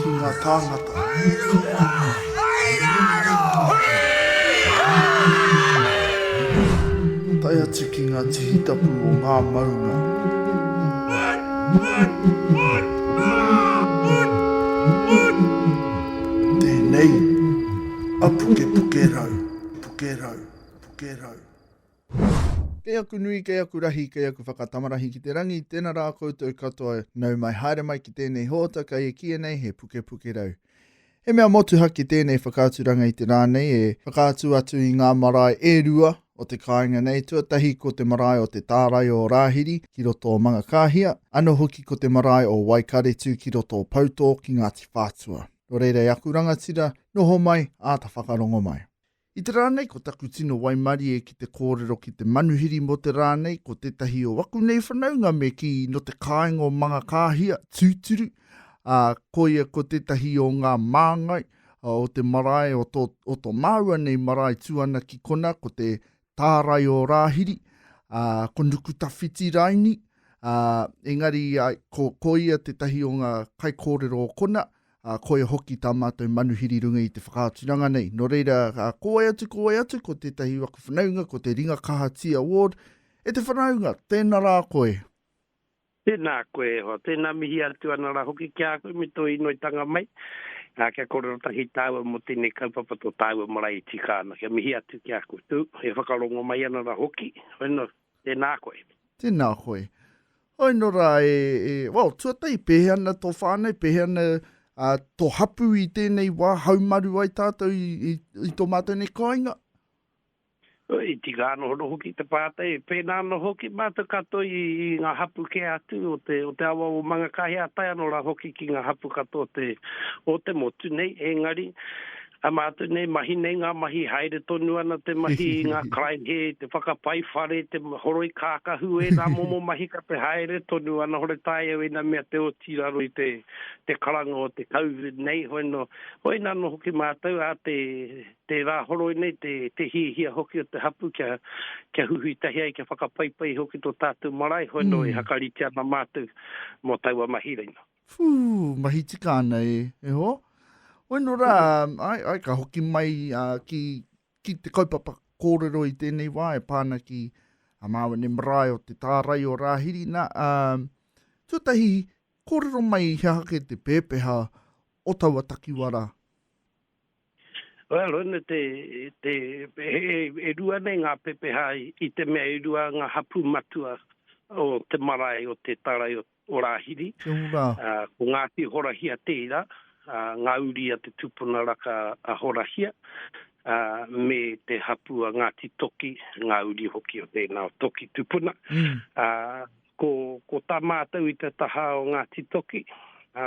Ki nga tangata. Tae atu ki nga tihi tapu o nga maunga. Tenei a pukepuke rau, puke rau, puke rau. Kei aku nui, kei aku rahi, kei aku whakatamarahi ki te rangi, tena ra koutou katoa, nau mai haere mai ki tenei hoota kai e kiia nei he Pukepukerau. He mea motuhake tenei whakaaturanga i te ra nei e whakaatu atu i nga marae e rua o te kaenga nei, tuatahi ko te marae o te Taarai o Rahiri ki roto o Mangakahia, ano hoki ko te marae o Waikaretu ki roto o Pouto ki Ngati Whatua. No reira e aku rangatira, noho mai, aata whakarongo mai. I te rā nei ko taku tino waimarie ki te kōrero ki te manuhiri mō te rā nei ko tētahi o aku nei whanaunga me kī nō te kāinga o Mangakāhia, tūturu, ā, koia ko tētahi o ngā māngai o te marae o tō, o tō māua nei marae tū ana ki kona ko te tārai o Rāhiri, ā, ko Nukutawhiti raini, ā, engari, ā, ko, koia tētahi o ngā kaikōrero o kona, ā, koia hoki tā mātou manuhiri i runga i te whakaaturanga nei. Nō reira, ko wai atu, ko wai atu, ko tētahi waku whanaunga, ko te Ringa Kaha Tea Award, e te whanaunga, tēnā rā koe. Tēnā koe e hoa, tēnā mihi atu ana rā hoki ki a koe me tō inoitanga mai, ā, kia kōrero tahi tāua mō tēnei kaupapa tō tāua marae e tika ana, kia mihi atu ki a koe, tū, e whakarongo mai ana rā hoki, whenu, tēnā koe. Tēnā koe. Hoi no ra, e, e, well, tuatahi, pehe ana to whanau, pehe ana uh, to hapu i tenei wa, haumaru ai tatou i, i, i to matou nei kainga? I tika ano hono hoki te pātai, pēnā ano hoki mātou katoa i, i ngā hapu ke atu o te, o te awa o Mangakahia, tae ano ra hoki ki ngā hapu katoa te, o te motu nei, engari, Ka mātau nei mahi nei ngā mahi haere tonu ana te mahi i ngā karaehe, te whakapai whare, te horoi kākahu, ēnā momo mahi ka te haere tonu ana hore tae au ina mea te oti raro i te karanga o te Covid nei hoi no hoi na no hoki mātau a te te rā horoi nei te te hihia hoki o te hapu kia kia huhui tahi ai kia whakapaipai hoki to tātou marae hoi no e hakarite ana mātau mo taua mahi reina. Whū, mahi tika ana e, e hoa. Hoi no rā, ai, ai ka hoki mai uh, ki, ki te kaupapa kōrero i tēnei wā e pāna ki a Māwene Marae o te tārai o Rāhiri. Nā, uh, tuatahi, kōrero mai he hake te pēpeha o taua takiwara? Well, ina te, te e, e rua nei ngā pepeha i te mea e rua ngā hapu matua o te marae, o te tarai, o, o Rāhiri. Te ora. Ko Ngāti Horahia tērā, ngā uri a te tupuna raka a Horahia, me te hapū a Ngāti Toki, ngā uri hoki o tēnā o Toki tupuna. Ko, ko tā mātou i te taha o Ngāti Toki,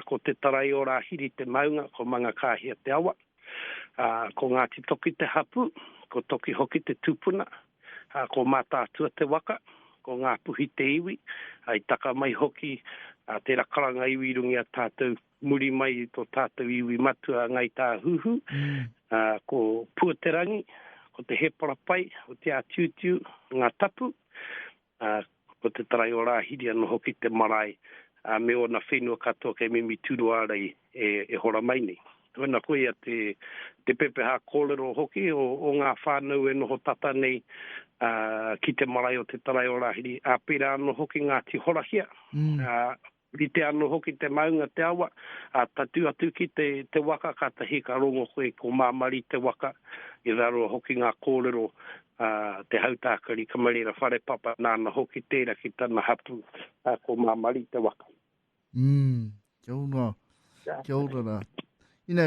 ko Te Tarai-o-Rāhiri te maunga, ko Mangakāhia te awa. Ko Ngāti Toki te hapū, ko Toki hoki te tupuna, Ko Mātaatua te waka, ko Ngāpuhi te iwi, i taka mai hoki tērā karanga iwi i runga i a tātou muri mai i tō tātou iwi matua a Ngāi Tāhuhu. Ko Puaterangi, ko Te Hēparapai, ko Te Ātiutiu, Ngā Tapu. ā, ko te tarai o Rāhiri anō hoki te marae, ā, me ōna whenua katoa kei mimi tūruārai e, e hora mai nei. Tuana koia te, te pepeha kōrero hoki o, o ngā whānau e noho tata nei, ā, ki te marae o te tarai o Rāhiri, ā, pērā anō hoki Ngāti Horahia, ā, Rite ano hoki te maunga te awa, a tatu atu ki te te waka katahi ka rongo koe ko Mamari te waka, i raro hoki nga korero a te hautakari Kamarera Wharepapa nana hoki tera ki tana hapu a ko Mamari te waka. Umm, kia ora, kia ora ra. Ina,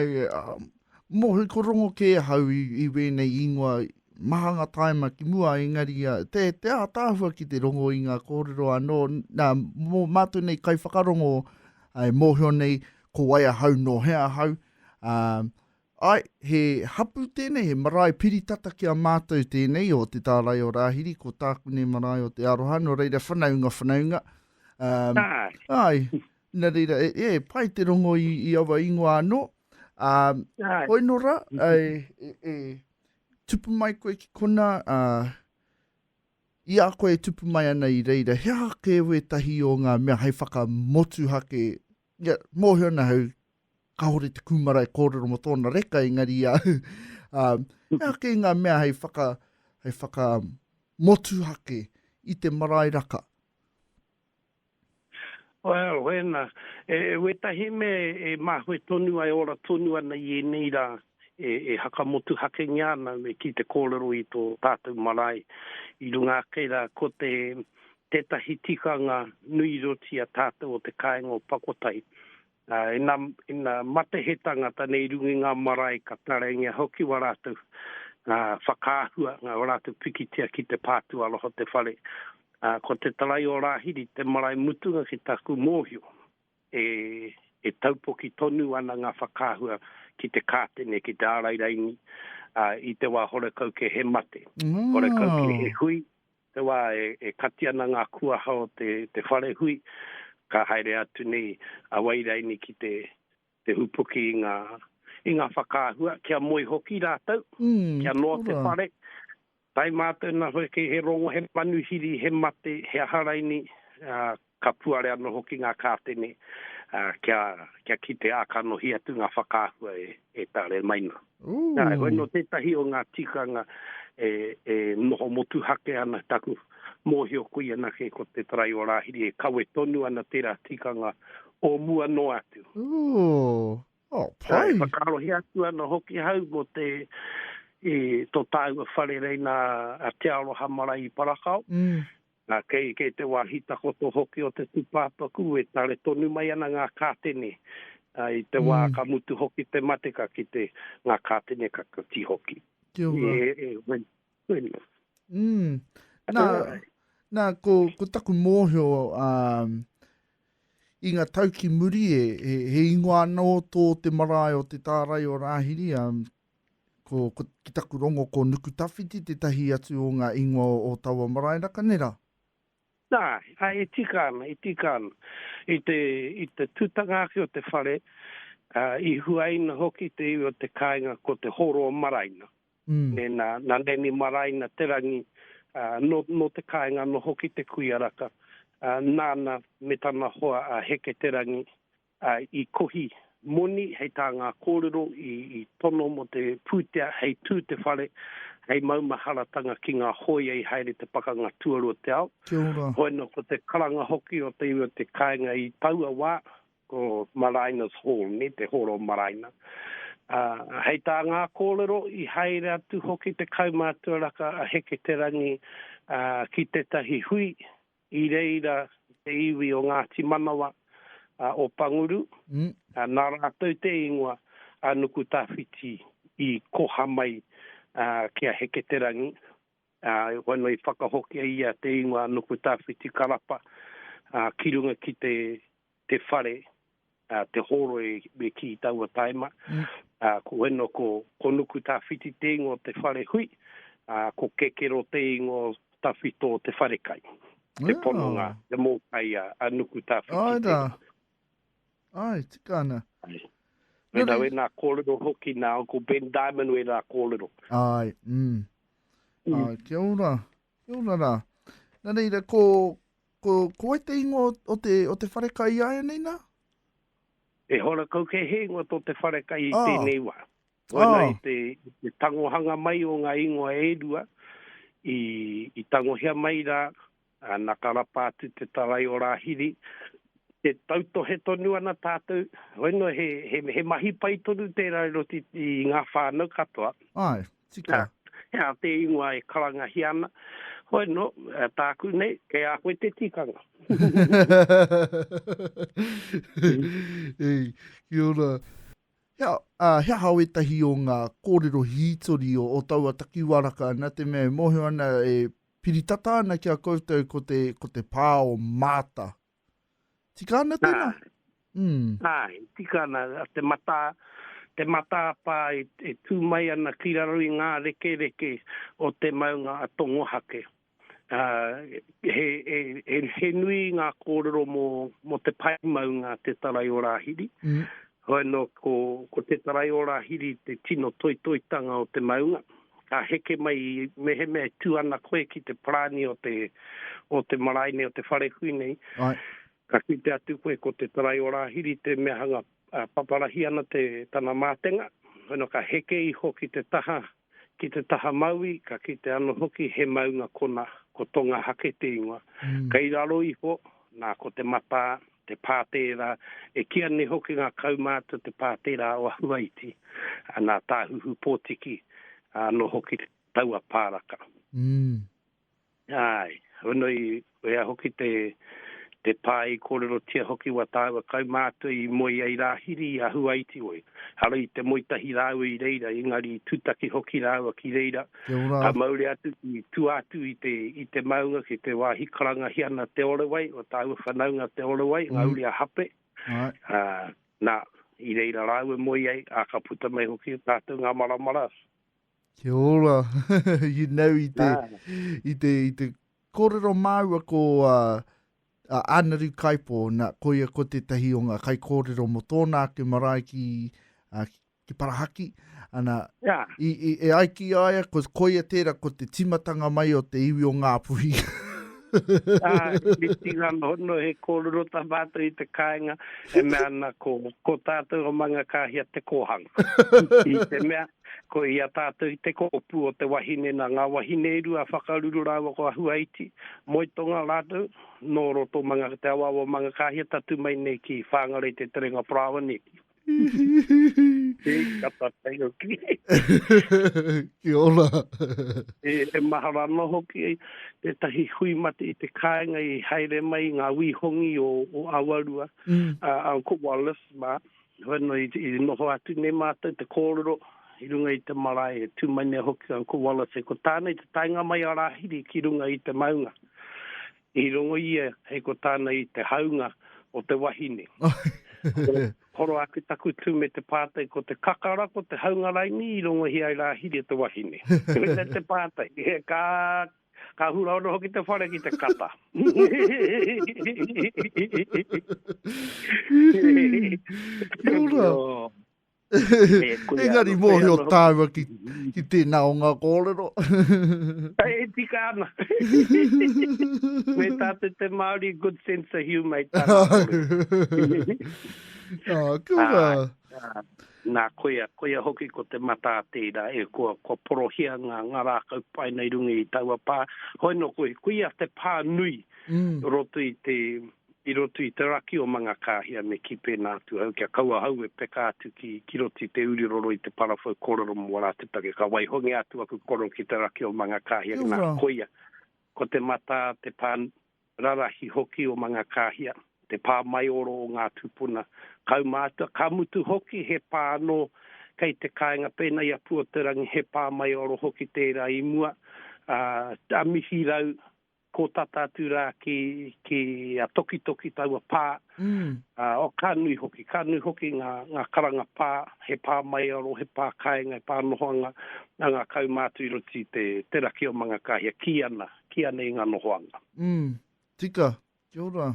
mohi ko rongo kē ahau i, i wēnei ingoa, maha ngā tāima ki mua, engari te, te ātaahua ki te rongo i ngā kōrero anō, nā, mō mātou nei kai whakarongo, ai, mōhio nei, ko wai ahau, nō hea ahau, ā, ai, he hapu tēnei, he marae piri tata ki a mātou tēnei o te tārai o Rāhiri, ko tāku nei marae o Te Aroha, nō reira whanaunga, whanaunga, ā, ai, Nā reira, e pai te rongo i aua ingoa anō. Ā, hoi nō rā, e tupu mai koe ki konā, ā, i a koe e tupu mai ana i reira, he aha kē wētahi o ngā mea hei whakamotuhake, ia, mōhio ana au, kāore te kūmara e kōrero mō tōna reka, engari i a au, ā, he aha kē ngā mea hei whaka, hei whakamotuhake i te marae raka? Well, wena, e wetahi mea e mahue tonu ai, ora tonu ana i enei ra, e hakamotuhakengia ana me ki te korero i to tatou marae i runga ake ra ko te tetahi tikanga nui roti a tatou o te kaenga o Pakotai, Ā, ina, ina mate he tangata nei i runga i ngā marae ka taraiangia hoki wā rātou, ā, whakaahua, ngā, wā rātou pikitia ki te pā tuaroha o te whare. Ā, ko te tarai o Rāhiri te marae mutunga ki tāku mōhio, e, e taupoki tonu ana ngā whakaahua ki te kātene, ki te ārai raini, ā, i te wā horekau kē he mate, horekau kē he hui, Te wā e kati ana ngā kuaha o te whare hui, ka haere atu nei a Wairaini ki te hupuki i ngā whakaahua, kia moe hoki rātou, kia noa te whare. Tae mātou nā whare kei he rongo, he manuhiri, he mate, he aha raini, Ka puare anō hoki ngā kātene kia, kia kite ā kanohi atu ngā whakaahua e, e tare mai nā. Nā, heoi nō tētahi o ngā tikanga e, e noho motuhake ana taku mōhio koe anake ko te tarai o Rāhiri e kawe tonu ana tērā tikanga o mua noa atu. Ooh. Oh, pai. Nā, e whakaarohia atu ana hoki hau mō te, e, tō tāua whare rei nā a Te Aroha Marae i Parakao. Mm. Nā, kei, kei te wāhi takoto hoki o te tūpāpaku e tare tonu mai ana ngā kātene, ā, i te wā ka mutu hoki te mate ka kite ngā kātene ka kati hoki. Kia ora. E, e, wena, wena. Mm. Nā, nā, ko, ko taku mōhio, ā, i ngā tau ki muri e, he, he ingoa anō tō te marae o te tārai o Rāhiri, ā, Ko, ko, ki taku rongo ko Nukutawhiti tētahi atu o ngā ingoa o, o taua marae rā, ka nera? Nā, ā, e tika ana, e tika ana. I te, i te tutanga ake o te whare, ā, i huaina hoki te iwi o te kāinga ko Te Horo-o-Maraina. Mm. Nē, nā, nā Nanny Maraina Te Rangi, ā, nō, nō te kāinga noho ki te kuia raka, ā, nāna me tana hoa a Heke Te Rangi, I kohi moni hei tā ngā kōrero i tono mō te pūtea hei tū te whare hei maumaharatanga ki ngā hōia i haere te Pakanga Tuarua te Ao. Hoi anō ko te karanga hoki o te iwi o te kāinga i taua wā ko Maraina's Hall, te hōro o Maraina. Hei tā ngā kōrero i haere atu hoki te kaumātua raka a Heketerangi ki tētahi hui I reira te iwi o Ngāti Manawa, a Opanguru, nā rātou te ingoa a Nukutawhiti i koha mai ki a Heketerangi, ā, e hoa noa i whakahokia ia te ingoa a Nukutawhiti Karapa ki runga ki te te whare, te hōroi me kī i taua taima. Ko eno ko Konuku Tawhiti te ingoa o te whare hui, a ko Kekero te ingoa o tawhito o te wharekai. Te pononga, te mōkai a Nuku Tawhiti. Ai rā. Ai, tika ana. Ai. Nui rā. Wē nā kōrero hoki nā Uncle Ben Diamond wē rā kōrero. Ai, mm. Ai, kia ora. Kia ora rā. Nā reira, ko, ko, ko wai te ingoa o, o, te, o te wharekai i āianei nā? E hora kau kei he ingoa tō te wharekai i ah. tēnei wā. Waina ah. i te, te tangohanga mai o ngā ingoa e rua, i, i tangohia mai rā, a na karapa atu te tarai o Rahiri, te tautohe tonu ana tātou, waina he, he, he mahi pai tonu tērā i roti i ngā whānau katoa. Ai. Tika, he aha te ingoa e karangahia ana? Hoi no, tāku nei, kei a koe te tikanga. Kia ora. He aha wētahi o ngā kōrero hītori o taua takiwaraka nā te mea e mōhio ana e piri tata ana ki a koutou ko te pā o Maata? Tika ana tēnā? Nā, mm. nā, tika ana te matā, te matāpā e, e tū mai ana ki raro i ngā rekereke o te maunga a Tongohake. Uh, he, he, he, he nui ngā kōrero mō, mō te pai maunga te tarai o Rāhiri. Mm. Hoi no ko ko te taraiora hiri te tino toitoitanga o te maunga. Ka heke mai i mehemea e tu ana koe ki te parani o te o te marae nei o te wharekui nei. Ai. Ka kite atu koe ko te taraiora hiri te mea hanga paparahi ana te tana matenga. Hoi no ka heke iho ki te taha Ki te taha mauī, ka kite ano hoki he maunga kona, ko Tonga hake te ingoa. Kei raro iho, na, ko te matā, te pā tērā, e kīa nei hoki nga kaumātua te pā tērā o Ahuaiti, na, Tāhuhupōtiki ano hoki taua pāraka. Ae, hono i wea hoki te te pa i korerotia hoki wa taua kaumātua i moe ai Rahiri i a Huaitioi. Ara i te moe tahi rāua i reira, engari i tutaki hoki rāua ki reira, ka mauri atu ki tua atu i te i te maunga ki te wāhi karangahia na Te Orewai, o tāua whanaunga Te Orewai, nga uri a Hape, a, na, i reira rāua moe ai, a ka puta mai hoki tātou nga maramara, Kia ora. you know, i te, ah. i te, i te kōrero māua ko a, a Anaru Kaipo, na, ko ia ko tētahi o ngā kai kōrero mo tōna ake marae ki, a, ki Parahaki. Ana, yeah. i, i, e ai ki aia, ko, ko ia tēra ko te timatanga mai o te iwi o Ngāpuhi. ah, me tīra no, no he kōrero tā mātou i te kāinga, e mea ana ko, ko tātou o manga kāhia te kōhanga. I te mea, Ko ia tātou i te kōpū o te wahine nā ngā wahine e rua a Whakaruru rāua ko Ahuaiti, Moetonga rātou, nō roto manga te awaawa o Mangakāhia tatū mai nei ki Whāngara i te terenga parāoa neke. Hī, ka tatai hoki. Kia ora. E mahara anō hoki tētahi hui mate i te kāinga i haere mai i ngā wī hongi o Awarua, Uncle Wallace mā, Hoano i noho atu nei mātou te kōrero i runga i te marae e tū mai nei hoki au ko Wallace ko tāna i te taenga mai a Rāhiri ki runga i te maunga i rongo ia hei ko tāna i te haunga o te wahine horo ake taku tū me te pātai ko te kakara ko te haunga raini i rongohia ai Rāhiri e te wahine. Koina te pātai. Ka Ka hura ono hoki te whare ki te kata. Kia ora. Engari mōhio tāua ki, ki tēnā o ngā kōrero. e tika ana. Me tā te te Māori, good sense of humour i tāna kōrero. Ah, kia ora. Ah, ah. Nā, koia, koia hoki ko te matā tērā e koa, kua porohia ngā, ngā rākau paina i runga i taua pā. Hoi nō, koia, koia te pā nui roto i te, i roto i te raki o Mangakāhia me kī pēnā atu ahau, kia kaua ahau e peka atu ki, ki roto i te uri roro i te parawhau kōrero mō ora atu take, ka waihongia atu aku koro ki te raki o Mangakāhia, nā, koia, ko te matā te pā, Rarahi hoki o Mangakāhia, te pā maioro o ngā tūpuna kaumātua, ka mutu hoki he pā anō kei te kāinga pēnā i a Puoterangi, he pā maioro hoki tērā i mua, a Mihirau, kō tata atu rā ki, ki a Tokitoki taua pā, ā, o, ka nui hoki, ka nui hoki ngā, ngā karanga pā, he pā maioro, he pā kāinga, he pā nohoanga a ngā kaumātua i roto i te, te raki o Mangakāhia, kī ana. ki anei nga nohoanga. Mm. Tika. Kia ora.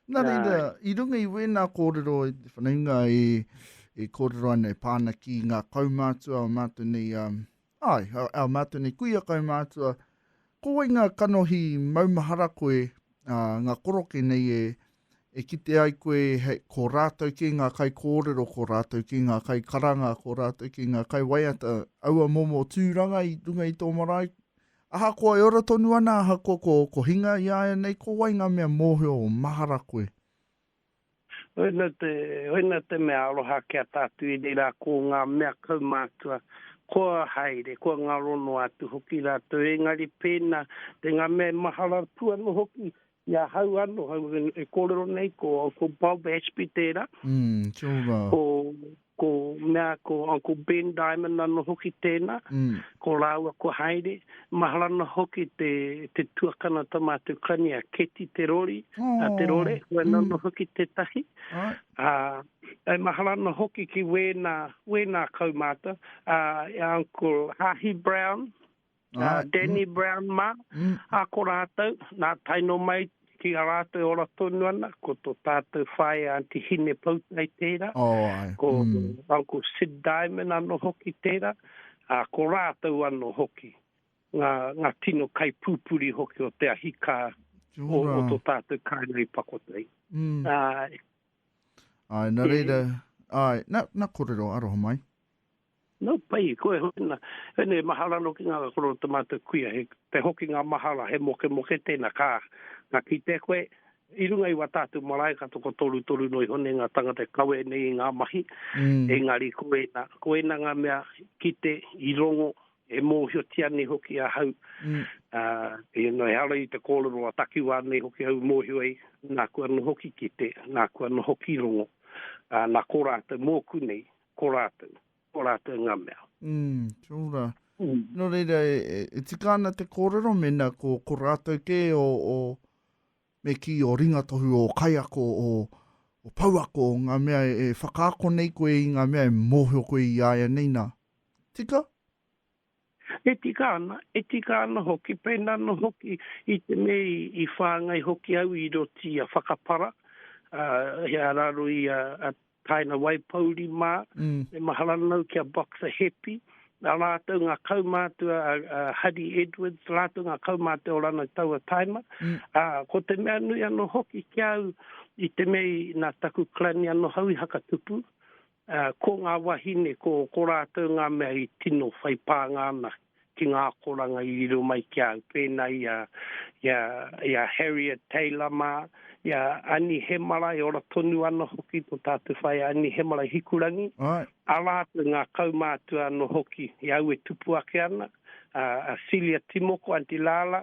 Na reira, i runga i wena korero e te whanaunga e, e korero ana e pana ki nga kaumatua o matou nei, um, ai, a matou nei kuia kaumatua, ko wai nga kanohi maumahara koe, a, nga koroke nei e, e kite ai koe he, ko ratou ke nga kai korero, ko ratou ke nga kai karanga, ko ratou ke nga kai waiata, aua momo turanga i runga i to marae, Ahakoa e ora tonu ana, ahakoa ko oko hinga iāianei, ko wai ngā mea mōhio o mahara koe? Hoena te, hoena te mea aroha ki a tātou i reira ko ngā mea kaumātua, kua haere, kua ngaro noa atu hoki rātou, engari pēnā, te ngā mea e mahara atu ana hoki, I ahau ano e korero nei ko Uncle Bob Ashby tera. Mm sure ra. Ko ko mea ko Uncle Ben Diamond ano hoki tena. Mm. Ko raua ko Haere. Mahara no hoki te te tuakana ta matou kani a Keti Te Rori. Oh. A Te Rore. Ko ena mm. no hoki tetahi. Right. A e mahara no hoki ki wena wena kaumata a uh, Uncle Hahi Brown. a Danny Brown mā, a ko rātou, nā tae noa mai ki a rātou e ora tonu ana, ko tō tātou whaea Aunty Hine Poutai tērā, ko Uncle Sid Diamond anō hoki tērā, ā, ko rātou anō hoki, ngā, ngā tino kaipūpuri hoki o te ahi kā o, o tō tātou kāinga i Pakotai. Āe. Āe, nā reira, āe, nā, nā kōrero, aroha mai. No pai, koe hoki na, pene mahara no ki nga koro o ta matou kuia, he te hokinga mahara, he mokemoke tena, ka, ka kite koe, i runga i wa tatou marae ka toko torutoru no iho nei nga tangata e kawe nei i nga mahi, engari koe na, koe na nga mea i kite, i rongo, e mohiotia nei hoki ahau, a, e no ehara i te korero a takiwa nei hoki au i mohio ai, na kua noho ki kite, na kua noho ki rongo, a na ko ratou moku nei, Ko rātou. Ko rātou ngā mea. Mm, kia ora. Mm. Nō reira, e, e, e tika ana te kōrero mena ko, ko rātou kē o, o me ki o ringatohu, o kaiako, o, o pouako, o ngā mea e, e whakaako nei koe i ngā mea e mōhio koe i aia nei nā. Tika? E tika ana, e tika ana hoki, pēnā anō hoki i te me i whāngai hoki au i roto i a Whakapara, ā, he araro i a Taina Waipouri mā, me mahara nau ki a Boxer Hepi, nā rātou ngā kaumātua a Hari Edwards, rātou ngā kaumātua o Ranau Taua Taima, ā, ko te mea nui anō hoki ki a au i te me nā taku clan i anō hau i Hakatupu, Ā, ko ngā wāhine, ko, ko rātou ngā mea i tino whai pānga ana ki ngā akoranga i riro mai ki a au, pēnā i a, i a, i a Harriet Taylor mā, i a Ani Hemara, e ora tonu ana hoki tō tātou whaea Ani Hemara i Hikurangi, Right. ā rātou ngā kaumātua anō hoki i au e tupu ake ana, a, a Celia Timoko, Aunty Lala,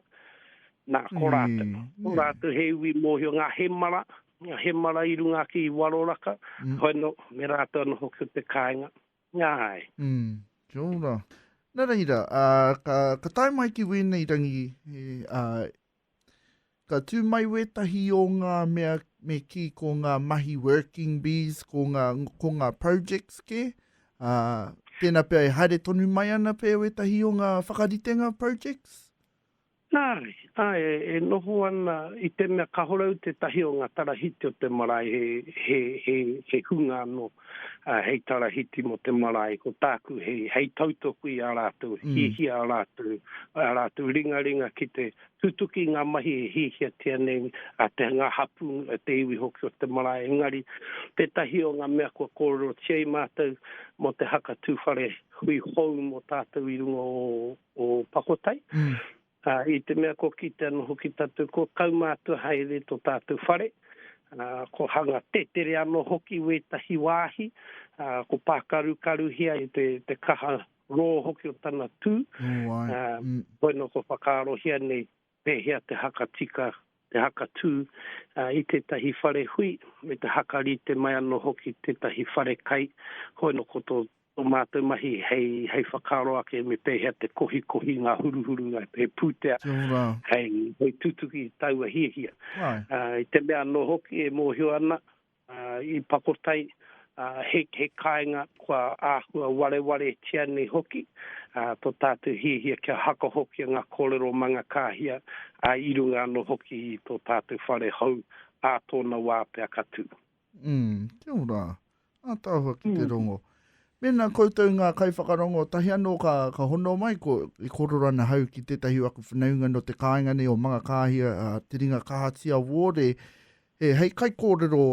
nā, ko rātou. Ko Nē. rātou he iwi mōhio, ngā Hemara, Nga hemara i runga ki Waroraka, hoi no, me ratou ano hoki o te kainga. Nga hai. Mm, kia ora. Na reira, a, ka, ka tae mai ki wenei rangi, he, a, ka tu mai wetahi o nga mea me ki ko nga mahi working bees, ko nga, ko nga projects ke, a, tena pea e haere tonu mai ana pea wetahi o nga whakaritenga projects? Nāre, āe, e noho ana i te mea kāore au tētahi o ngā tarahiti o te marae he, he, he, he hunga anō, ā, hei tarahiti mō te marae, ko tāku hei, hei tautoko i ā rātou hiahia, ā rātou, ā rātou ringaringa ki te tutuki i ngā mahi e hiahiatia nei a te, ngā hapū, te iwi hoki o te marae. Engari, tētahi o ngā mea kua kōrerotia i mātou mō te haka tūwhare hui hou mō tātou i runga o, o Pakotai, ā, i te mea kua kitea anō hoki tātou kua kaumātua haere tō tātou whare, ā, kua hanga tetere anō hoki wētahi wāhi, ā, kua pākarukaruhia e te, te kaha rō hoki o tana tū, ā, koinā kua whakaarohia nei Pēhea te haka tika, te haka tū i tētahi whare hui, me te haka rite mai anō hoki tētahi whare kai, hoi no ko tō mātou mahi hei whakaaro ake me pēhea te kohikohi ngā huruhuru he pūtea hei tutuki i taua hiahia. I te mea anō hoki e mōhio ana Ā, i Pakotai, ā, he, he kāinga kua āhua warewaretia nei hoki, ā, tō tātou hiahia kia hakahokia ngā kōrero mā ngā kāhia, ā, i runga anō hoki i tō tātou whare hou, ā tōna wā pea ka tū. Umm, kia ora. Ā tāua ki te rongo. Mēnā koutou ngā kaiwhakarongo, tahi anō ka, ka hono mai, ko, e korero ana hau ki tētahi o aku whanaunga nō te kāinga nei o Mangakāhia, ā, Te Ringa Kahatia Wōre, He hei kaikōrero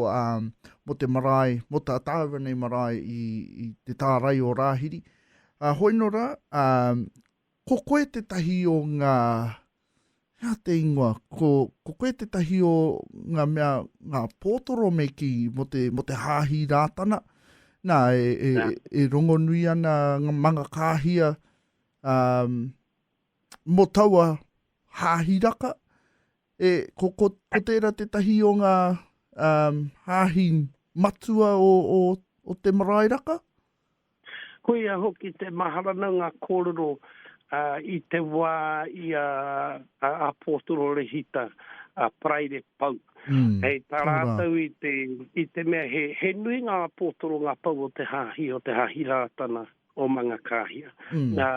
mō te marae, mō tā tāua nei marae i te tārai o Rāhiri. Hoi nō rā, ko koe tētahi o ngā, hea te ingoa, ko koe tētahi o ngā mea, ngā pōtoro me kī mō te hāhi Rātana. Nā, e rongonui ana ngā mangakāhia mō taua hāhi raka, E, ko, ko, ko tērā tētahi o ngā um, hāhi matua o, o, o te marae raka? Ko ia hoki te maharana ngā kōrero uh, i te wā i a, a, a Pōtoro Rehita, a Paraire Pau. Mm, Hei tā rātou i te, i te mea he, he nui ngā pōtoro ngā pau o te hāhi, o te hāhi rātana. o Mangakāhia. Nā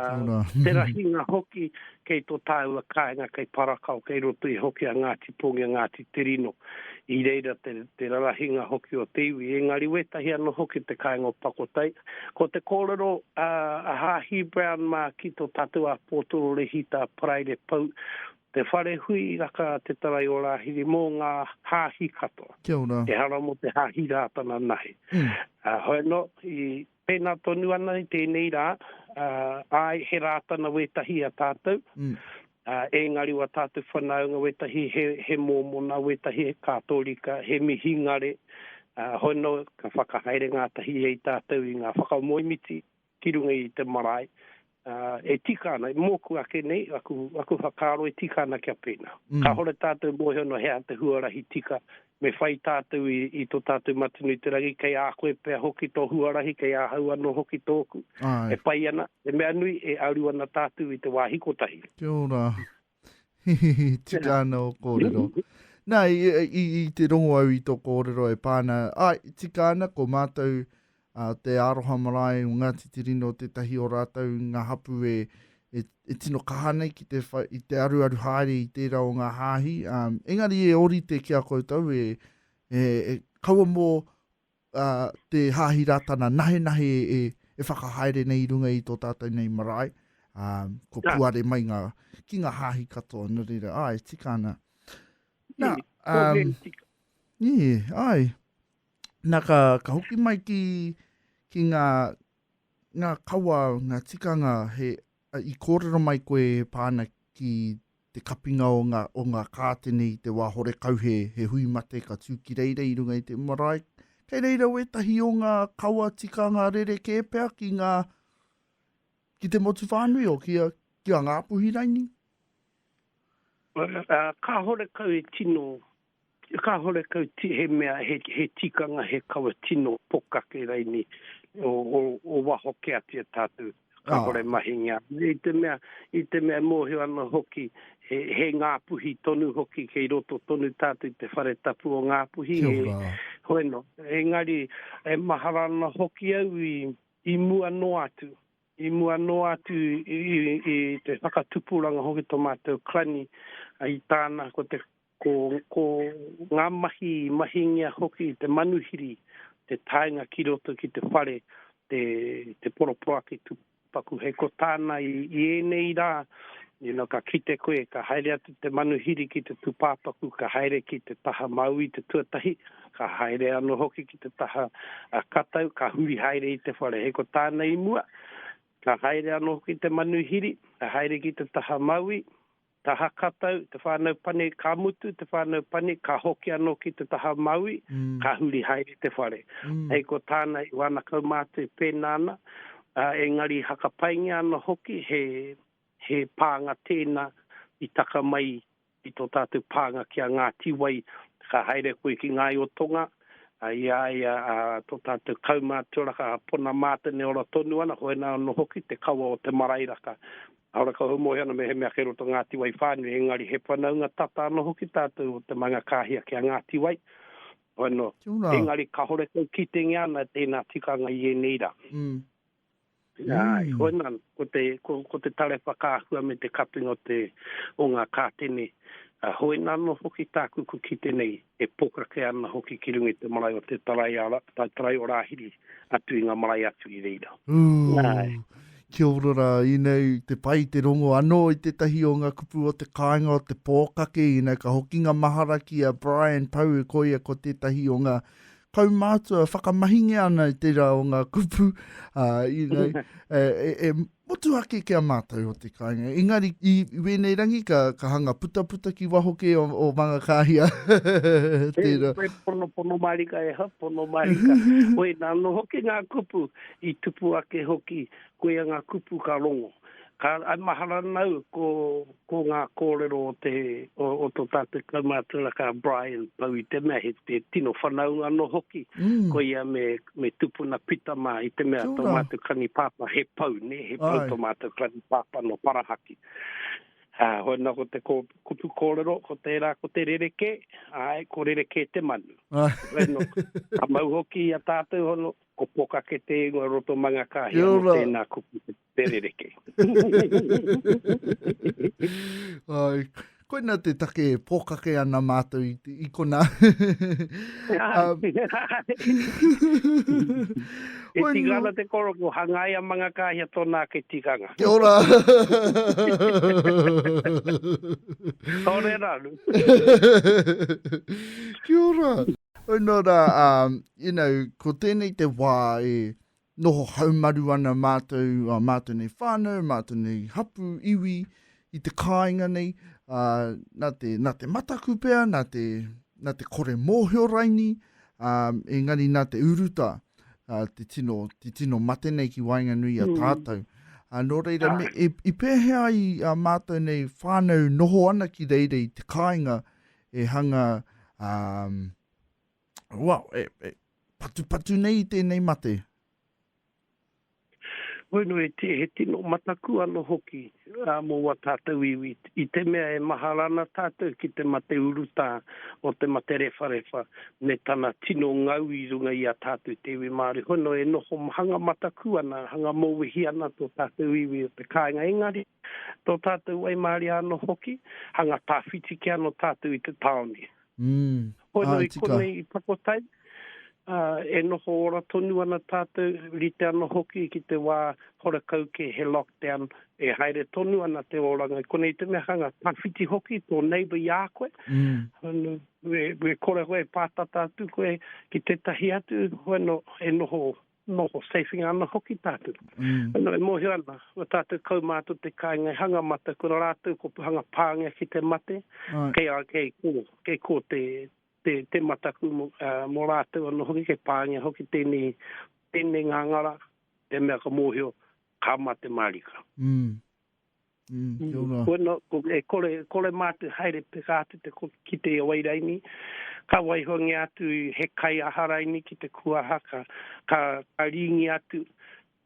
te rahinga hoki kei tō tāua kāinga kei Parakao, kei roto i hoki a Ngāti Pongi, a Ngāti Te Rino. I reira te, te rarahinga hoki o te iwi. Engari wētahi anō hoki te kāinga o Pakotai. Ko te kōrero a, a Hāhi Brown mā ki tō tātou a Pōtoro Rehita Paraire Pou, te whare hui i raka a Te Tarai o Rāhiri mō ngā Hāhi katoa. Kia ora. Ehara mō te Hāhi rā tana nahi. Mm. Uh, hoeno, i, Pēnā tonu ana i tēnei rā, āe, he Rātana wētahi a tātou, ēngari wā tātou whanaunga wētahi he mōmona, wētahi he Kātōrika, he mihingare, hono ka whakahaere ngātahi ai tātou i ngā whakamoemiti ki runga i te marae, Ā, e tika ana, i mōku ake nei, aku, aku whakaaro e tika ana kia pēnā. Kāore tātou mōhio nō hea te huarahi tika me whai tātou i, i tō tātou Matunu-te-rangi, kei a koe pea hoki tō huarahi, kei ahau anō hoki tōku. Āe. E pai ana, te mea nui, e aru ana tātou i te wāhi kotahi. Kia ora. Tika ana o kōrero. Nā, i, i, i te rongo au i tō kōrero e pāna, ai, tika ana ko mātou a, te aroha marae o Ngāti Tirino tētahi o rātou ngā hapu e, e, e tino kaha nei ki te, wha, i te aruaru haere i tērā o ngā hāhi. Um, engari e orite ki a koutou e, e, e kaua mō te Hāhi Rātana nahenahe e whakahaere nei i runga i tō tātou nei marae, ko puare mai ngā, ki ngā Hāhi katoa, nō reira, ā, e tika ana. Nā, nī, ai, nā ka, ka hoki mai ki, ki ngā, ngā kawa, ngā tikanga he I kōrero mai koe e Pana ki te kapinga o nga o nga kātene i te wā horekau he he hui mate ka tū ki reira i runga i te marae kei reira wētahi o nga kawa tikanga rerekē pea ki nga ki te motu whānui o ki a ki a Ngāpuhi raini. Ka horekau e tino Kāhore kau ti, he mea, he tikanga, he kawa tino pokake raini o waho ke atia tātou, kāhore mahinga. I te mea, i te mea mōhio ana hoki, he Ngāpuhi tonu hoki, kei roto tonu tātou i te whare tapu o Ngāpuhi. Kia ora. Hoi nō. Engari, e mahara ana hoki au i mua noa atu, i mua noa atu i te whakatupuranga hoki tō mātou Klani i tāna, ko te Ko, ko ngā mahi i mahingia hoki i te manuhiri, te taenga ki roto ki te whare, te, te poroporoaki tupaku. Hei ko tāna i, i ēnei rā, you know, ka kite koe, ka haere atu te manuhiri ki te tūpāpaku, ka haere ki te taha māui te tuatahi, ka haere anō hoki ki te taha a Katau, ka huri haere i te whare. Hei ko tāna i mua, ka haere anō hoki te manuhiri, ka haere ki te taha māui, Ka hakatau te whānau pani, ka mutu te whānau pani, ka hoki anō ki te taha mauī, ka huri haere te whare. Hei ko tāna i wāna kaumātua pēnā ana, ā, engari i hakapaingia ana hoki he, he pānga tēnā i taka mai i tō tātou pānga ki a Ngāti Wai, ka haere koe ki Ngāi o Tonga, ā, i a ia, ā, tō tātou kaumātua raka a Pona Mātene ora tonu ana, hoena anō hoki te kawa o te marae raka. Arā, ka homoe ana mehemea kei roto o Ngāti Wai whānui, engari he whanaunga tata anō hoki tātou o te Mangakāhia ki a Ngāti Wai, hono, engari kāore kau kitenga ana tēnā tikanga i ēnei rā. Āe, hoena, ko te, ko te tare whakaahua me te kapinga o te, o ngā kātene, hoena anō hoki tāku kua kite nei. e pōkake ana hoki ki runga i te marae o Te Taraiara, Te Taraioraahiri, atu i ngā marae atu i reira. Ooh. Kia ora ra, inei te pai te rongo ano i tetahi o nga kupu o te kainga o te pokake, inei ka hokinga mahara ki a Brian Pou koia ko tetahi o nga kaumātua whakamahingia ana i tērā o ngā kupu, ā, you know, e, e, e motuhake ki a mātou o te kāinga. Engari, i, i wēnei rangi, ka, ka hanga putaputa ki waho kē o, o Mangakāhia. tērā. E, pono, pono marika e ha, pono marika. Oi, nā, no hoki ngā kupu i tupu ake hoki Koia ngā kupu ka rongo. Ka, I mahara ana au ko, ko ngā kōrero o te, o, o tō tātou kaumātua kā Brian pau i te mea he, he tino whanaunga anō hoki, koia me, me tupuna pita mā i te mea tō mātou kanipāpā he pau, nē, he pau tō mātou kanipāpā nō Parahaki. Ā, hoi nō ko te kō, kupu kōrero ko tērā ko te rerekē, āe, ko rerekē te manu. Hoi nō, ka mau hoki i a tātou hono, Ko Pokake te ingoa roto Mangakahia mo tena kupu te rereke. Ai, koina te take e pokake ana matou i, i kona. um, e tika ana te koroko, hangai a Mangakahia tona ake tikanga. Kia ora. Tore ranu. Kia ora. Nō rā, you know, ko tēnei te wā e noho haumaru ana mātou, a mātou nei whānau, mātou nei hapu, iwi, i te kāinga nei, a, nā, te, nā te mataku pea, nā te, nā te kore mōhio raini, a, engari nā te uruta, a, te, tino, te tino mate nei ki waenganui a mm. tātou. A, nō reira, me, e, i pēhea ai a mātou nei whānau noho ana ki reira i te kāinga, e hanga, um, well, e, e patupatu nei i tēnei mate. Bueno, he, te, he tino mataku ano hoki uh, mō wā tātou iwi. I te mea e mahara ana tātou ki te mate urutā o te mate rewharewha me tana tino ngau i runga i a tātou te iwi Māori. Hono e noho hanga mataku ana, hanga mōwehi ana tō tātou iwi o te kāinga. Engari, Tō tātou waimaria anō hoki, hanga tāwhiti kē anō tātou i te tāone. Hono i konei i Takotai, e noho ora tonu ana tātou, rite anō hoki ki te wā horakau kē, he lockdown, e haere tonu ana te oranga i konei, te mea hanga tāwhiti hoki tō neighbour i a koe, me kore koe e pātata atu koe ki tētahi atu, hono e noho Noho seiwhinga ana hoki tātou. Anō e mōhio ana, ko tātou kaumātua te kāinga i hanga mata, ko rātou ko Puhanga Pāngia ki te mate, kei a, kei kō, kei kō te, te, te mataku mō, ā, mō rātou anō hoki, kei pāngia hoki tēnei, tēnei ngāngara, te mea ka mōhio, ka mate mārika. Kore mātou haere peka atu ki te wai raini, ka waihoangia atu he kai aha raini ki te kuaha, ka rīngi atu,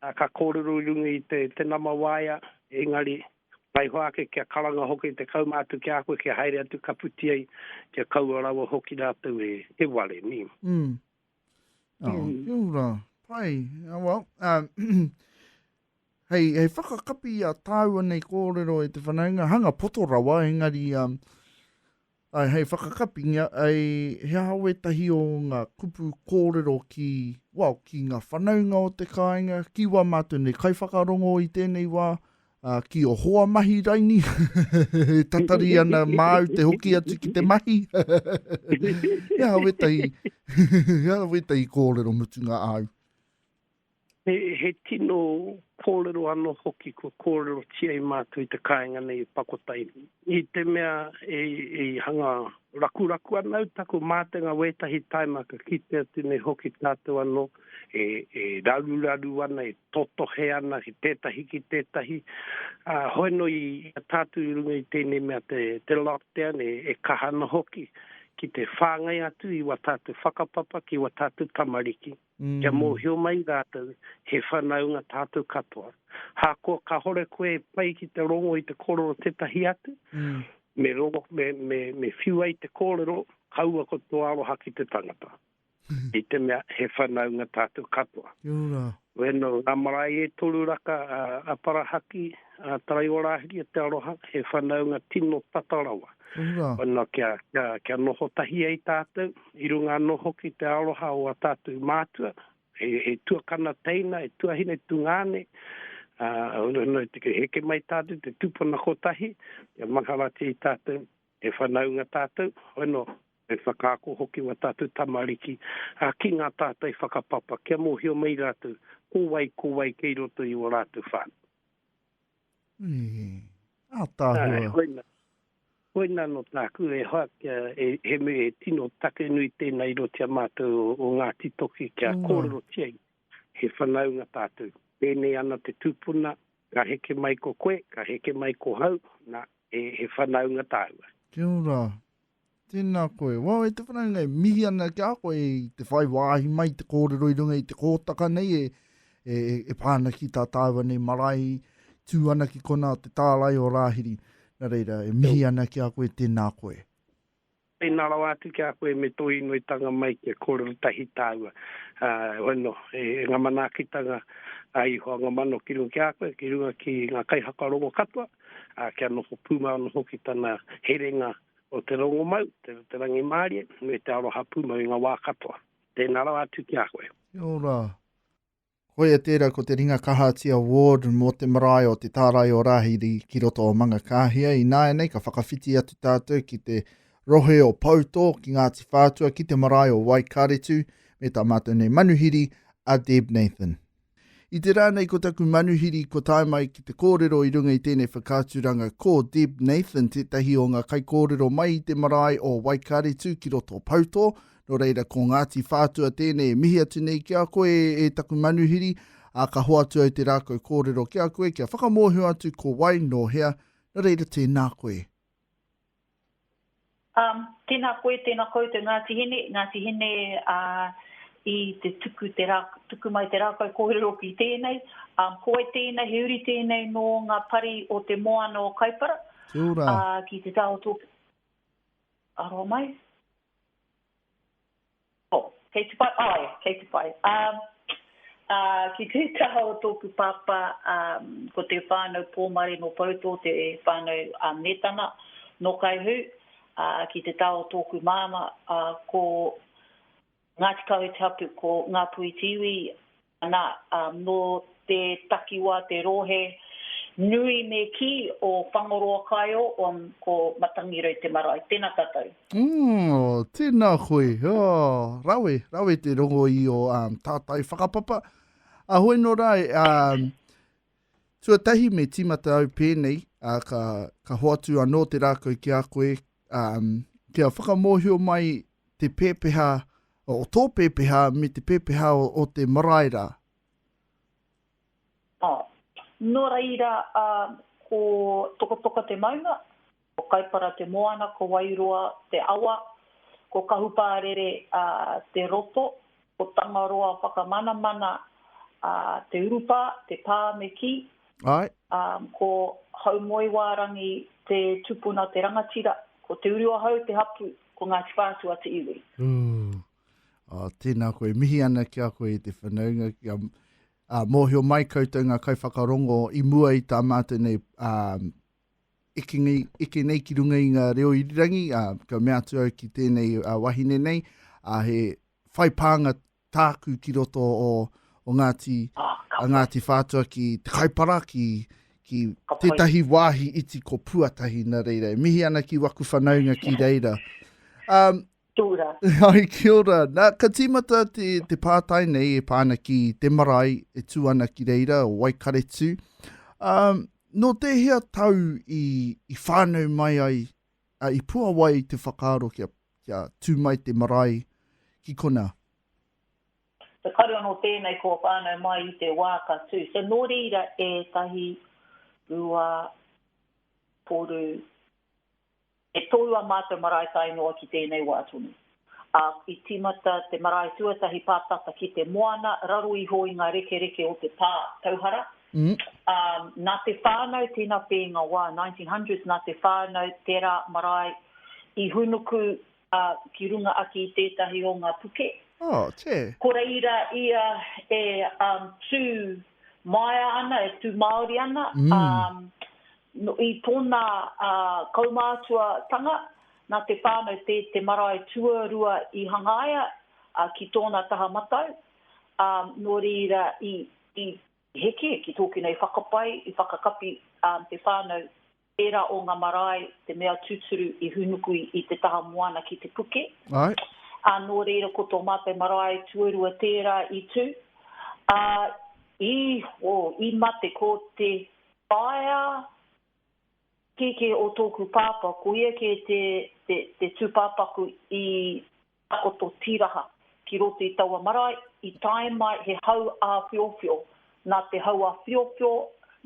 ka kōrero i runga i te nama waea, engari waiho ake kia karanga hoki te kauma atu ki a koe kia haere atu ka puti ai, kia kaua rawa hoki rātou e ware. Oh, kia ora. Pai. Oh, well, um, hei, hei whakakapi a tāua nei kōrero e te whanaunga, hanga poto rawa, engari, um, ai, hei whakakapi, ngā, ai, he aha wētahi o ngā kupu kōrero ki, well, ki ngā whanaunga o te kāinga, ki wā mātou nei kaiwhakarongo i tēnei wā, A ki o hoa mahi raini, e tatari ana māu te hoki atu ki te mahi. He aha wetahi, he aha wetahi kōrero mutunga āu? He, he tino kōrero anō hoki kua kōrerotia e mātou i te kāinga nei e Pakotainui. I te mea i hanga rakuraku ana au taku mātenga wētahi taima ka kite atu nei hoki tātou anō e raruraru ana, e totohe ana ki tētahi ki tētahi. Hoeno i a tātou i runga i tēnei mea te lockdown e kaha ana hoki ki te whāngai atu i wā tātou whakapapa ki wā tātou tamariki. kia mōhio mai rātou he whanaunga tātou katoa. Ahakoa kāore koe e pai ki te rongo i te kōrero o tētahi atu, me rongo, me, me, me whiu ai te kōrero, kaua ko tō aroha ki te tangata. I te mea, he whanaunga tātou katoa. Kia ora. Wēnō, ngā marae e toru raka a, a Parahaki, a Taraiorahiri, a Te Aroha, he whanaunga tino tata rawa. Kia ora. Wēnō, kia, kia, kia noho tahi ai tātou. I runga anō hoki i te aroha o ā tātou mātua, he tuakana teina, he tuahine tungāne, ā, ka heke mai tātou te tūpuna kotahi, kia mangaratia i tātou, he whanaunga tātou, hoi nō, he whakaako hoki wā tātou tamariki ki ngā tātai whakapapa, kia mōhio mai rātou ko wai, ko wai kei roto i ō rātou whānau. Ātaahua. Āe, koina. Koina anō tāku e hoa kia e, he mea e tino take nui tēnā i roto i a mātou o, o Ngāti Toki kia kōrerotia i he whanaunga tātou. Pēnei ana te tūpuna, ka heke mai ko koe, ka heke mai ko hau, nā, he, he whanaunga tāua. Kia ora. Tēnā koe. Wao, e te whanaunga e mihi ana ki a koe i te whai wāhi mai, te kōrero i runga i te kōtaka nei e, e, e pā ana ki tā tāua nei marae tū ana ki kona o te tārai o Rāhiri. Nā reira, e mihi ana ki a koe, tēnā koe. Tēnā rawa atu ki a koe me tō inoitanga mai kia kōrero tahi tāua. Uh, hono, e, e ngā manaakitanga a Ihoa Ngamano ki runga ki a koe, ki runga ki ngā kaihaka rongo katoa, ā, kia noho pūmau hoki tana herenga o te rongomau, te, te rangimārie, me te aroha pūmau i ngā wā katoa. Tēnā rawa atu ki a koe. Kia ora. Koia tērā ko te Ringa Kahati Award mō te marae o te tārai o Rāhiri ki roto o Mangakāhia. I nāianei ka whakawhiti atu tātou ki te rohe o Poutō, ki Ngāti Whātua, ki te marae o Waikaretu, me tā mātou nei manuhiri a Deb Nathan. I te rā nei ko taku manuhiri kua tae mai ki te kōrero i runga i tēnei whakaaturanga ko Deb Nathan tētahi o ngā kaikōrero mai i te marae o Waikaretu ki roto Poutō, nō reira ko Ngāti Whātua tēnei e mihi atu nei ki a koe e taku manuhiri, ā ka hoatu au te rākau kōrero ki a koe kia whakamōhio atu ko wai, nō hea, nō reira tēnā koe. Um, tēnā koe, tēnā koutou Ngāti Hine, Ngāti Hine a i te tuku te rā, tuku mai te rākau kōrero ki tēnei. Um, ko wai tēnei, he uri tēnei nō ngā pari o te moana o Kaipara. Kia ora. Uh, ki te taotō. Aroa mai. Oh, kei te whai, oh yeah, kei te whai. Um, uh, ki te taha o tōku pāpā, um, ko te whānau Pōmare nō Poutō, te whānau a uh, Mētana, nō Kaihū, uh, ki te taha o tōku māma, uh, ko Ngāti Kawe te hapu, ko Ngāpuhi Tiwi, Ana, ā, nō te takiwā te rōhe nui me kī o Whangoroa Kaeo on ko Matangirei te marae. Tēnā tātou. Ō, tēnā koe. Ō, rawe, rawe te rongo i ō tātai whakapapa. Ā, hoi nō rā, ā, tuatahi me tīmata au pēnei, ā, ka, ka hoatu anō te rākau ki a koe, Um, kia whakamōhio mai te pēpeha, o tō pēpeha me te pēpeha o, o te marae rā. Oh. Nō reira, uh, ko Tokotoka te maunga, ko Kaipara te moana, ko Wairoa te awa, ko Kahupārere uh, te roto, Ko Tangaroa Whakamanamana a Te Urupā, te pā me kī. Ae. Ko Haumoewārangi te tupuna te rangatira, ko Te Uruahau te hapū, ko Ngāti Whātua te iwi. Ooh. Oh, tēnā koe. Mihi ana ki a koe i te whanaunga. Kia mōhio mai koutou ngā kaiwhakarongo i mua i tā mātou nei eke nei, eke nei ki runga i ngā reo irirangi, ā, ka mea atu au ki tēnei ā, wahine nei, ā, he whai pānga tāku ki roto o, o Ngāti, ah, a Ngāti Whātua ki Te Kaipara, ki, ki tētahi wāhi iti ko Puatahi, nā reira, e mihi ana ki waku whanaunga ki reira. Um, Kia ora. Hi, kia ora. Nā, ka tīmata te, te pātai nei e pā ana ki te marae e tū ana ki reira, o Waikaretu. Um, nō tēhea tau i, i whānau mai ai, uh, i puawai te whakaaro kia, kia tū mai te marae ki kona? Te kare anō tēnei kua whānau mai i te wā ka tū. So nō reira e tahi, rua, toru, E toru a mātou marae tae noa ki tēnei wā tonu, ā, i tīmata te marae tuatahi pātata ki te moana raro iho i ngā rekereke o te pā tauhara, ā, nā te whānau tēnā pēnga wā, 1900s, nā te whānau tērā marae i hūnuku Ā, ki runga ake i tētahi o ngā puke. Oh, che. Ko reira ia e um, tū maea ana, e tū māori ana, um, no, i tōna uh, kaumātuatanga, nā te whānau te, te marae tuarua i hangaia uh, ki tōna taha matau, um, nō reira i, i heke, ki tōku nei whakapae, i whakakapi um, te whānau Ērā o ngā marae te mea tūturu i hūnuku i te taha moana ki te puke. Āe. Ā, nō reira ko tō mātou marae tuarua tērā i tū, ā, i, oh, i mate, ko te whaea kēkē o tōku pāpā, ko ia kē te, te, te tūpāpaku i Takoto tīraha ki roto i taua marae, i tae mai he hau āwhiowhio. Nā te hau āwhiowhio,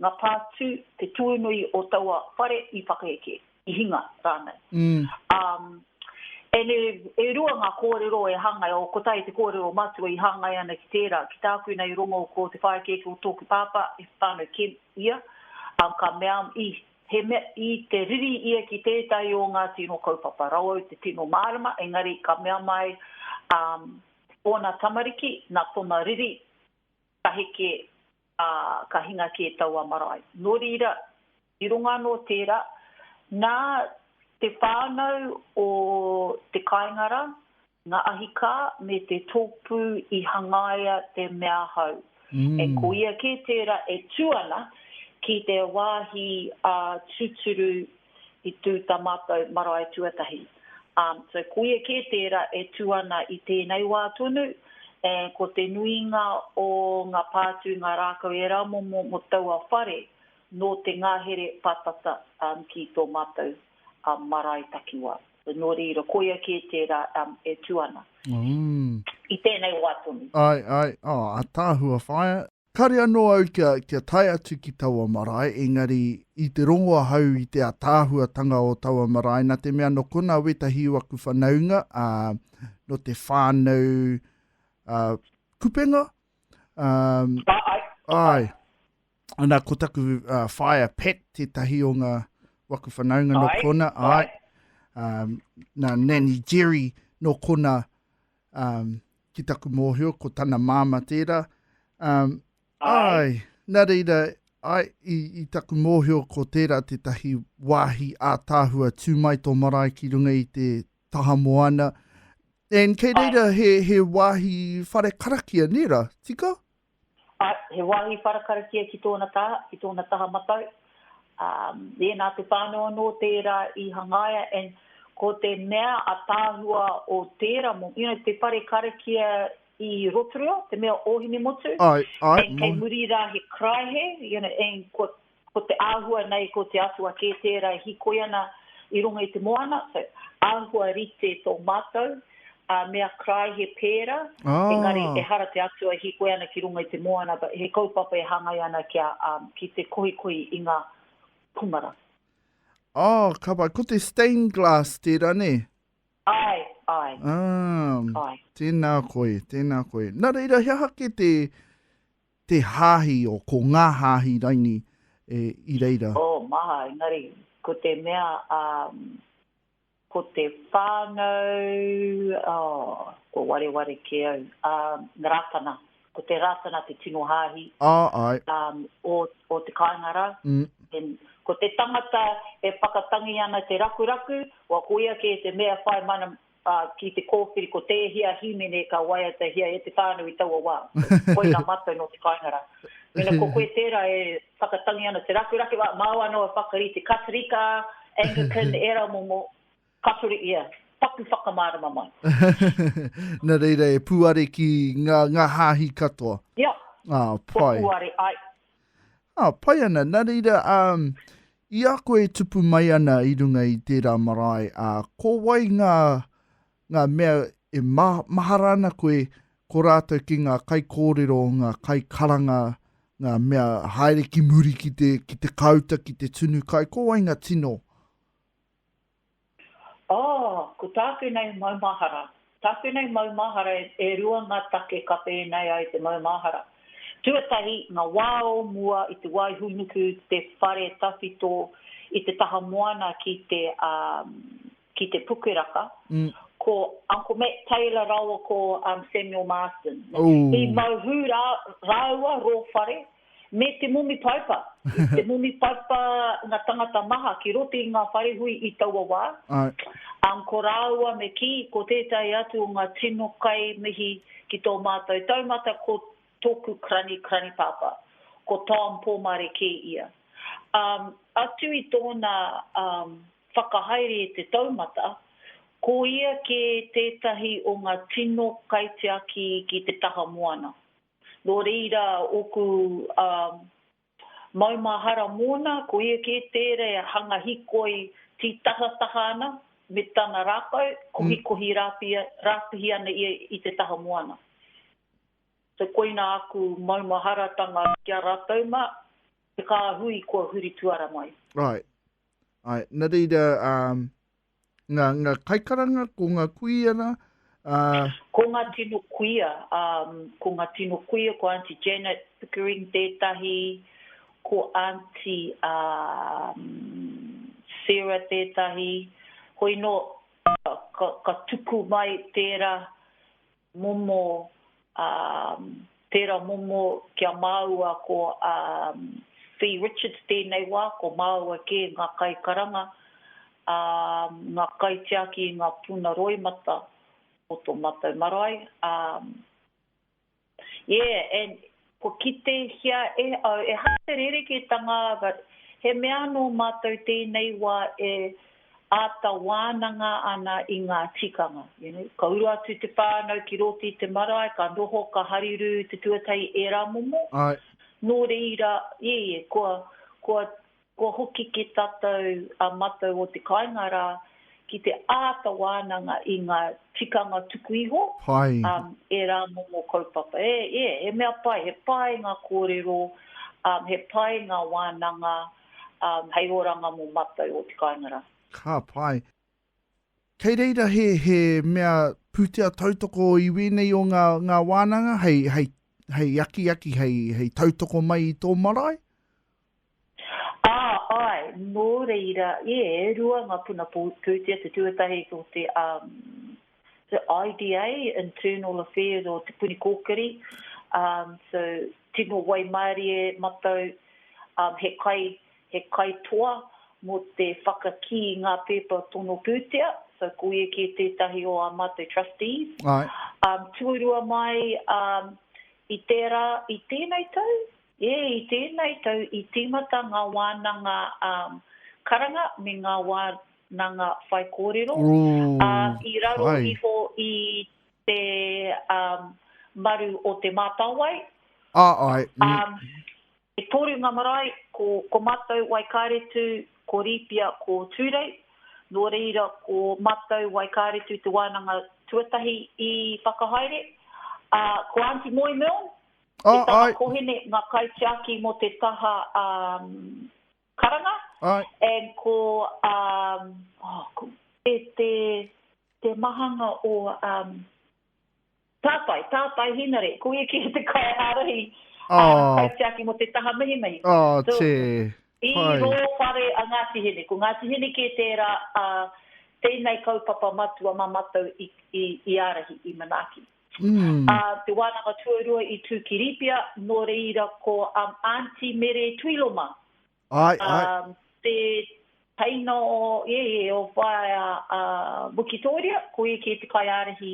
ngā pātū, te tuinui o taua whare i whakaeke, i hinga rānei. Ā, e rua ngā kōrero e hāngai, o kotahi te kōrero matua i hāngai ana ki tērā, ki tāku nei rongo ko te whāekeeke o tōku pāpā, e whānau Kemp ia, ā, ka mea, i. He mea i te riri ia ki tētahi o ngā tino kaupapa rauau te tino mārama, engari ka mea mai a ōna tamariki nā tōna riri ka heke, ā, ka hinga kē taua marae. Nō reira, i runga anō tērā, nā te whānau o Te Kāingara Nga ahikā me te tōpū i hangaia te mea hau. E koia kē tērā e tū ana ki te wāhi a tūturu i tū ta mātou marae tuatahi. So koia kē tērā e tū ana i tēnei wā tonu, ko te nuinga o nga pātū nga rākau e ramomo mo taua whare nō te ngahere patata ki tō mātou marae takiwā. The Nōrīro, koia kē tērā e tū ana. I tēnei wā tonu. Ae, ae, oh, ataahua whaea. Kare anō au kia, kia tae atu ki taua marae, engari i te rongo ahau i te ataahuatanga o taua marae, na te mea no kona wetahi o aku whanaunga, a, no te whānau, a, kupenga, a, Ae, ae. Ana, ko taku uh, whaea Pat, tētahi o ngā waku whanaunga no kona, ai, um, na Nanny Jerry no kona um, ki taku mōhio, ko tana māma tērā. Um, ai. na reira, ai, i, i taku mōhio ko tērā tētahi wāhi ātāhua tū mai tō marae ki runga i te taha moana. And kei reira he, he wāhi whare karakia, nera, tika? Āe, he wāhi wharakarakia ki tōna taha, ki tōna taha matau. Ā, ēnā te whānau anō tērā i hangaia and ko te mea ataahua o tērā mo, you know, te whare karakia i Rotorua, te mea o Hinemotu, Āe, āe, and kei moe. muri rā he karaehe, you know, and kua, ko te āhua nei ko te Atua kē tērā e hikoi ana i runga i te moana, so āhua rite tō mātou, ā, me a Krai he pēra, engari Ah! ehara te Atua e hikoi ana ki runga i te moana, but he kaupapa e hāngai ana kia, um, ki te kohikohi i ngā kumara. Oh, ka whai, ko te stained glass tērā, nē? Āe, āe, Ah, āe. tēnā koe, tēnā koe. Nā reira, he aha kē te, Te hāhi o ko ngā hāhi raini e i reira. Oh, maha, engari, ko te mea, um, ko te whānau, oh, kua wareware kē au, um, na Rātana, ko te Rātana te tino hāhi, Ah, ai. um, o, o te kāinga rā. Mm. Then, ko te tangata e whakatangi ana te rakuraku, wa koia kē te mea whai mana, Ā, ki te kōwhiri ko tēhea hīmene ka waiatahia e te whānau i taua wā. Koinā mātou nō te kāinga rā. Mēnā ko koe tērā e whakatangi ana te rakerake, ā, māua anō e whakarite Katorika, Anglican, ērā momo, Katori, ia, paku whakamārama mai. Nā reira e pūare ki ngā, ngā hāhi katoa. Ia. Ā, pai. Kua pūare ai. Ā, pai ana, nā reira, ā, i a koe e tupu mai ana i runga i tērā marae, ā, ko wai ngā, ngā mea e ma, mahara ana koe, ko rātou ki ngā kaikōrero, ngā kaikaranga, ngā mea haere ki muri ki te, ki te kāuta, ki te tunu kai, ko wai ngā tino? Ā, ko tāku nei maumahara. Tāku nei maumahara, e rua ngā take ka pēnei ai te maumahara. Tuatahi, ngā wā o mua i te wā i hūnuku te whare tawhito i te taha moana ki te, ā, ki te Pukeraka, ko Uncle Matt Taylor rāua ko Samuel Marsden. He mau hū rā, rāua rō whare, Me te momi paipa. Te momi paipa nga tangata maha ki roto i nga wharehui i taua wa. Ang ko raua me ki, ko tetahi atu o nga tino kai mihi ki to matou taumata ko toku krani, krani papa. Ko Tom Pomare ke ia. Um, atu i tona um, whakahaere e te taumata, ko ia ke tetahi o nga tino kaitiaki ki te taha moana. Nō reira ōku maumahara mōna, ko ia kē tērā e hanga hikoi tītahataha ana me tana rākau, kohikohi rāpihi ana ia i te taha moana. So koina aku maumaharatanga ki a rātou mā, te kāhui kua huri tuara mai. Right. Nā reira, Ngā, ngā kaikaranga, ko ngā kuia rā, ā. Ko ngā tino kuia, ā, ko ngā tino kuia, ko Aunty Janet Pickering tētahi, ko Aunty, ā, Sarah tētahi, hoi nō, ka, ka tuku mai tērā momo, ā, tērā momo ki a māua ko, ā, Fee Richards tēnei wā, ko māua kē ngā kaikaranga, ā, ngā kaitiaki i ngā puna roimata o tō mātou marae, ā, yeah, and Kua kitehia e au ehara te rerekētanga āga, he mea anō mātou tēnei wā e āta wānanga ana i ngā tikanga. You know, ka uru atu te whānau ki rōti i te marae, ka noho, ka harirū te tuatahi ērā momo. Āe. Nō reira, ē, kua, kua Kua hoki ki tatou a matou o te kainga ra ki te aata wananga i nga tikanga tuku iho, Hai. e ra momo kaupapa. E, e, he mea pai, he pai nga korero, he pai nga wananga hei oranga mo matou o te kainga ra. Ka pai. Kei reira he, he mea pūtea tautoko i wēnei o ngā, ngā wānanga hei, hei, hei akiaki, hei, hei tautoko mai i tō marae? Ā, āe, nō reira, e rua ngā puna pūtea, te tuatahi ko te, um, te IDA, Internal Affairs o Te Puni Kōkiri, um, so tino waimarie matau, um, he kai, He kaitoa mō te whakakī i ngā pēpa tono pūtea, so ko ia kē tētahi o ā mātou trustees. Tuarua mai i tērā, i tēnei tau, ē, i tēnei tau i tīmata ngā wānanga karanga me ngā wānanga whaikōrero, ā, i raro iho i te maru o Te Mātāwai. Āe. E toru nga marae, ko ko matou Waikaretu, ko Riipia, ko Turei. No reira ko matou Waikaretu te wananga tuatahi i whakahaere. A, ko Aunty Moe Milne, me tana kohene nga kaitiaki mo te taha karanga, and ko, oh, ko, te, te, te mahanga o, Tātai, tātai hinare, ko ia ki te kaiārahi, ā, kaitiaki mō te taha mihimihi. So, i rō whare a Ngāti Hine, ko Ngāti Hine kē tērā ā tēnei kaupapa matua mā mātou i ārahi, i manaaki. Ā te wānanga tuarua i tū ki Rīpia, nō reira ko Aunty Mere Tuiloma, Ae, ae. Te teina o, ie, ie, o Whaea a Wikitoria, ko ia kē te kaiārahi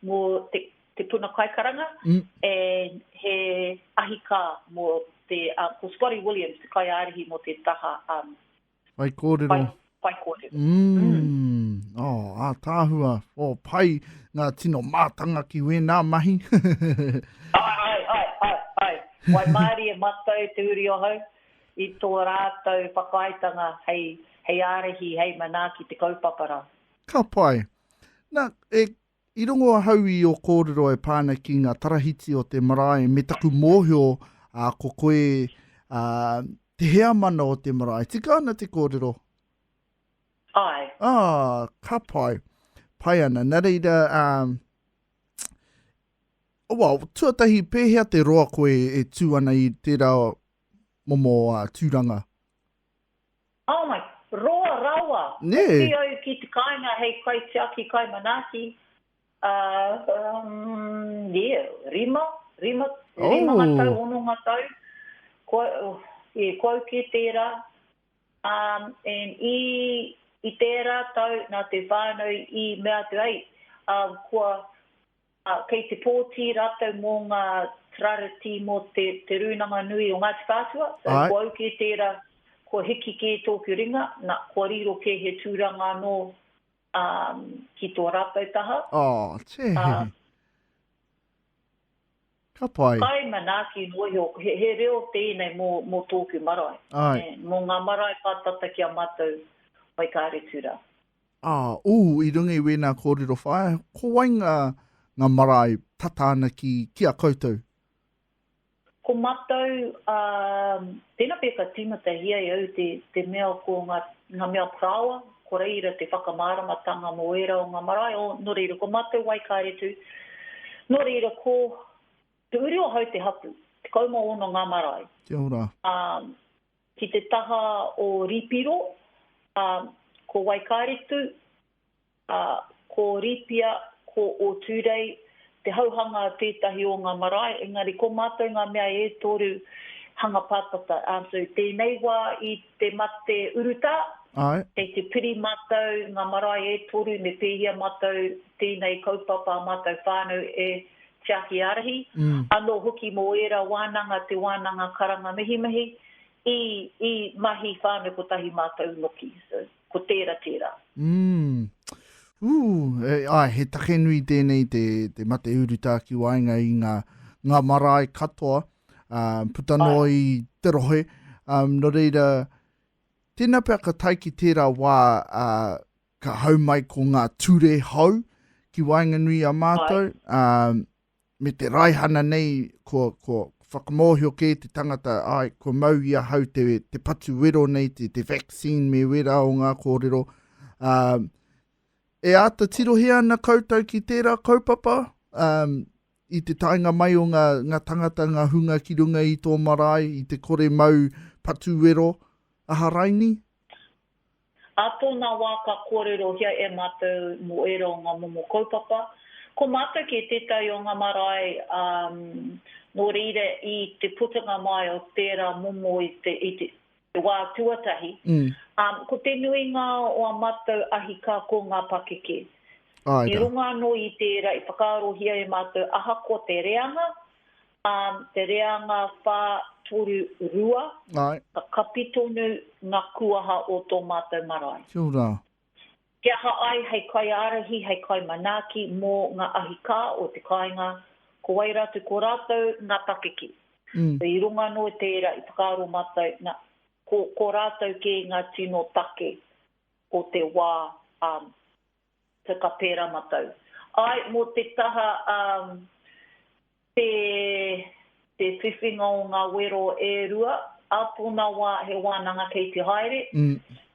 mō te puna kaikaranga, and he ahikā mō te, ko Spotty Williams te kaiārahi mō te taha whaikōrero. whai kōrero. Mm. Oh, ātaahua, oh, pai ngā tino mātanga ki wēnā mahi. Ai, ai, ai, ai, ai. Waimārie matau te uri ohau i tō rātou whakaaetanga hei, hei ārahi, hei manaaki te kaupapa rā. Ka pai. Na, e, I rongo ahau i ō kōrero e pā ana ki ngā tarahiti o te marae me taku mōhio ko koe te heamana o te marae. Tika ana te kōrero? Ae. Ah, ka pai. Pai ana. Nā reira, well, tuatahi, pēhea te roa koe e tū ana i tērā momo tūranga? Oh my, roa rawa! Nē! Hoki au ki te kāinga hei kaitiaki kai manaaki, umm, yeah, rima, rima, rimanga tau, Oh! hononga tau, kua, yeah, kua au ki tērā, umm, and i, i tērā tau nā te whānau i mea atu, hei, umm, kua, Ā, kei te pōti rātou mō ngā Trareti mō te, te Rūnanga Nui o Ngāti Whātua, so Āe. kua au kē tērā, kua hiki kē tōku ringa, nā, kua riro kē he tūranga anō, ā, ki tō rātou taha. Ā, tē Ā. hehi. Ka pai. Kai manaaki noa iho, he, he reo tēnei mō, mō tōku marae, Āe. nē, mō ngā marae pātata ki a mātou waikāretu rā. Ā, ū, i runga i wēnā kōrero whāia, ko wai ngā, ngā marae tata ana ki, ki a koutou? Ko mātou, ā, tēnā pea ka tīmatahi ai au te, te mea ko ngā, ngā mea parāoa, ko reira te whakamāramatanga mō ērā o ngā marae, o, nō reira, ko mātou Waikaretu, nō reira, ko, Te Uri-o-Hau te hapū, 16 ngā marae. Kia ora. Ā. Ki te taha o Ripiro, ā, ko Waikaritu, ā, ko Ripia, ko Ōtūrei, te hauhanga tētahi o ngā marae, engari ko mātou ngā mea e toru hanga pātata. Ā, so tēnei wā i te mate urutā, kei te piri mātou ngā marae e toru me pēhia mātou tēnei kaupapa ā mātou whānau e Tiaki Ārahi, anō hoki mō ērā wānanga te wānanga karanga mihimihi, i, i mahi whānau kotahi mātou noki. So, ko tērā tērā. Mm. Ooh, e, ai, he take nui tēnei te, te mate urutā ki waenga i ngā, ngā marae katoa, uh, puta noa i te rohe. Um, no reira, tēnā pea ka tai ki tērā wā uh, ka hau mai ko ngā ture hou ki waenganui i a mātou, ā, me te raihana nei, ko, ko whakamōhio kē te tangata, ai, kua mau i ahau te, te patu wero nei, te, te vaccine me wera o ngā kōrero. Ā, e āta tirohia ana koutou ki tērā kaupapa, ā, i te taenga mai o ngā, ngā tangata, ngā hunga ki runga i tō marae, i te kore mau patu wero, aha raini? Ā tōna wā ka kōrerohia e mātou mō ērā o ngā momo kaupapa. Ko mātou kē tētahi o ngā marae, ā, nō reira i te putunga mai o tērā momo i te, i te, te wā tuatahi, ā, ko te nuinga o ā mātou ahikā ko ngā pakeke. I runga anō i tērā i whakaarohia e mātou ahakoa te reanga, Arm, te reanga whā, toru, rua. Āe. Ka kapi tonu ngā kuaha o tō mātou marae. Kia ora. He aha ai hei kaiārahi, hei kaimanaaki mō ngā ahikā o te kāinga, ko wai rā tu ko rātou ngā pakeke. I runga anō i tērā i whakaaro mātou, na, ko, ko rātou kē ngā tino take o te wā, arm. Te Kapera matau. Ae, mo te taha umm te te whiwhinga o nga wero e rua, a tona wa he wananga kei te haere,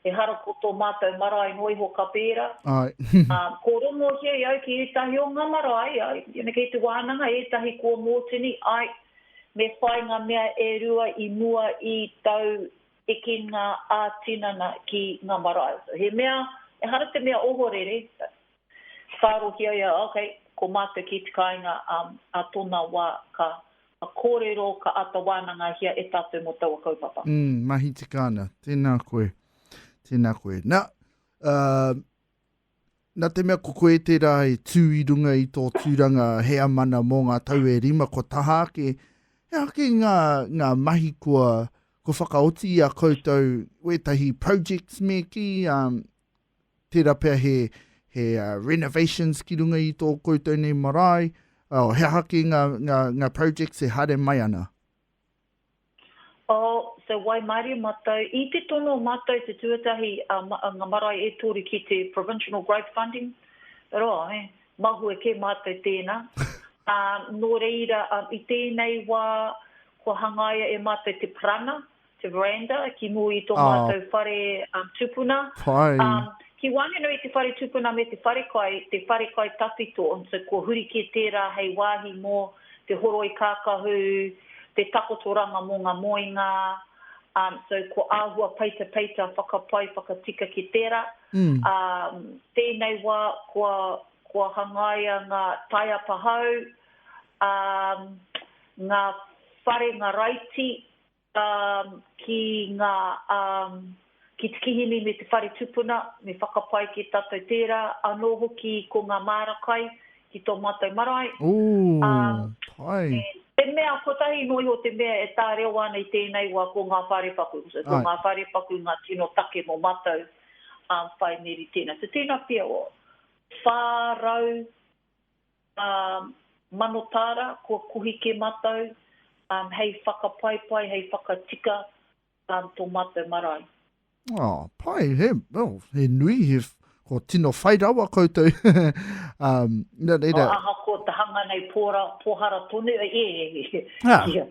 ehara ko to matou marae noa iho kapera, a ko rongohia i au ki etahi o nga marae, ai, kei te wananga, etahi kua Motini, ae, me whai nga mea e rua i mua i tau Eke ngā ā-tinana ki ngā marae. So he mea, ehara te mea ohorere, whārohia ia, ok, ko mātou ki te kāinga ā tōna wā ka kōrero, ka āta wānangahia e tātou mō taua kaupapa. Umm, mahi tika ana. Tēnā koe. Tēnā koe. Nā, Nā te mea ko koe tērā e tū i runga i tō tūranga heamana mō ngā tau e rima kua taha ake, he aha kē ngā, ngā mahi kua, kua whakaoti i a koutou, wētahi projects me kī, ā, tērā pea he, he renovations ki runga i tō koutou nei marae, ā, he aha kē ngā, ngā, ngā projects e haere mai ana? Oh, so waimarie matou, i te tono matou te tuatahi a nga marae e toru ki te provincial growth funding, right, mahue ke matou tena, no reira i tenei wa kua hangaia e matou te parana, te veranda, ki mua i to matou whare tupuna, ki wanganui i te whare tupuna me te wharekai, te wharekai tawhito, so kua huri ke tera hei wahi mo. te horoi kākahu, te takotoranga mō ngā moenga, um, so ko āhua peitapeita whakapai, whakatika ki tērā. Um, tēnei wā kua, kua hangaia ngā taiapa hou, um, ngā whare, ngā raiti, um, ki nga um, ki te kihini me te whare tupuna, me whakapae ki tatou tera, ano hoki ko nga maara kai ki to matou marae, um, me te mea kotahi no iho te mea e tareo ana i tenei wa ko nga wharepaku, so ko nga wharepaku nga tino take mo matou, um, whai meri tena. So tena pea, 400. Ā, mano tāra, kua kohi kē mātou, ā, hei whakapaipai, hei whakatika, ā, tō mātou marae. Ā, pai, he, oh, he nui, he, kua tino whai rawa koutou, ā, nā reira. Ā, ahakoa te hanga nei pōra, pōhara tonu, ē, ē, ē, kia.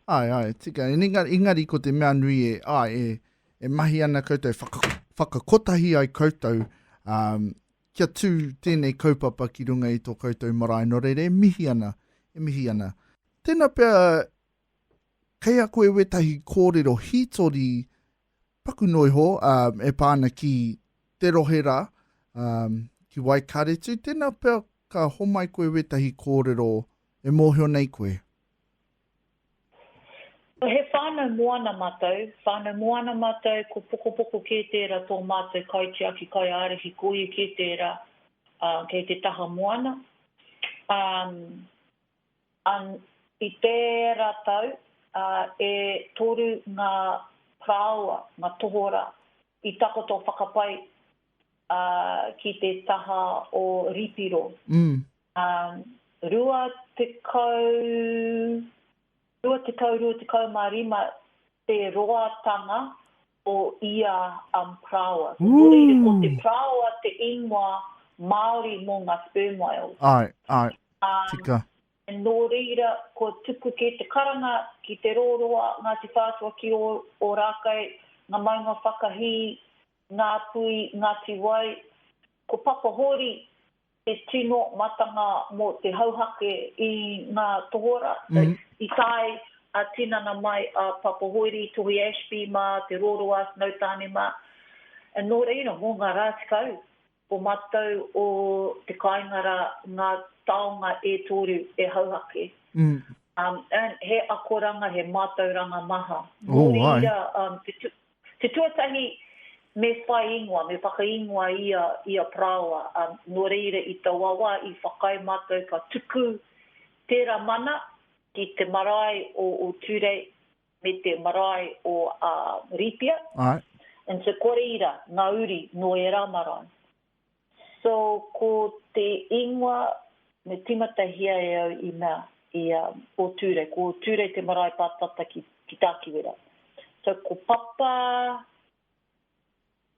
Āe, āe, tika, engari, engari ko te mea nui e, āe, e, e mahi ana koutou, whaka, whakakotahi ai koutou, ā, Kia tū tēnei kaupapa ki runga i tō koutou marae nō reira e mihi ana, e mihi ana. Tēnā pea kei a koe wētahi kōrero hītori paku noa iho e pā ana ki te rohe rā, ki Waikaretu, tēnā pea ka homai koe wētahi kōrero e mōhio nei koe. Ko he whānau moana mātou, whānau moana mātou, ko Pokopoko kē tērā tō mātou kaitiaki kaiārahi, ko ia kē tērā kei te taha moana. I tērā tau, e toru ngā parāoa, ngā tohorā, i takoto whakapai ki te taha o Ripiro. Ā, rua tekau, rua tekau, rua tekau mā rima te roatanga o ia um praoa. Ko Moreira, ko te praoa te ingoa Māori mō ngā sperm whales. Āe, āe, tika. Um, nō reira, kua tupu kē te karanga ki Te Rōroa, Ngāti Whātua ki Ōrākei, ngā maunga whakahī, Ngāpuhi, Ngāti Wai, ko Papahōri, Te tino matanga mō te hauhake i ngā tohora, i tae a tinana mai a Papa Hoiri, Tohi Ashby mā, Te Roroa, Snow Tane mā. Nō reira, mō ngā rā tekau o matou o te kāinga rā ngā taonga e toru e hauhake. He akoranga, he mātauranga maha. Nō reira, Te tuatahi, me whai ingoa, me whakaingoa ia i a Parāoa, ā, nō reira i taua wā i whakaae mātou ka tuku tērā mana ki te marae o Ōtūrei me te marae o Rīpia, Āe. and so kua reira ngā uri nō ērā marae. So ko te ingoa me timatahia e au i mea i a o Turei ko Turei te marae pa tata ki ki Takiwera so ko papa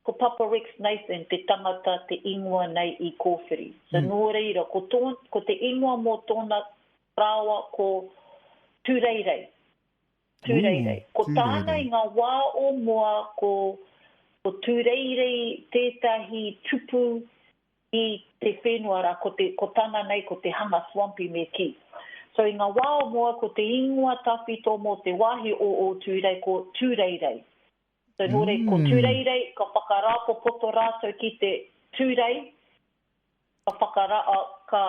ko papa Rex Nathan te tangata te ingoa nei i kowhiri so no reira ko to ko te ingoa mo tona rawa ko Tureirei. Tūreirei. Ko tāna i ngā wā o mua ko Tūreirei tētahi tupu i te whenua rā, ko tāna nei ko te hanga swampy me kī. So i ngā wā o mua ko te ingoa tawhito mō te wāhi o Ōtūrei ko Tūreirei. So nō reira, ko Tūreirei, ka whakarāpopoto rātou ki te Tūrei, ka whakara, ka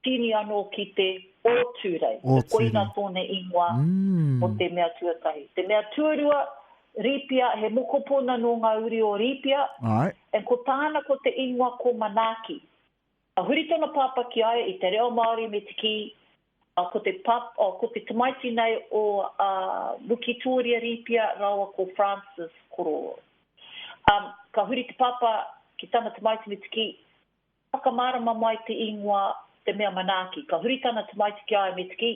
tīni anō ki te Ōtūrei. So koina tōna ingoa mō te mea tuatahi. Te mea tuarua, Rīpia, he mokopuna nō ngā uri o Rīpia, and ko tāna ko te ingoa ko Manaaki. Ka huri tōna pāpā ki a ia i te reo Māori me te kī, Ko te pap, oh, ko te tamaiti nei o a Wikitoria Rīpia rāua ko Francis Kororo. Um, ka huri te papa ki tana tamaiti me te ki, Whakamārama mai te īngoa te mea manaaki. Ka huri tana tamaiti ki a ia me te ki,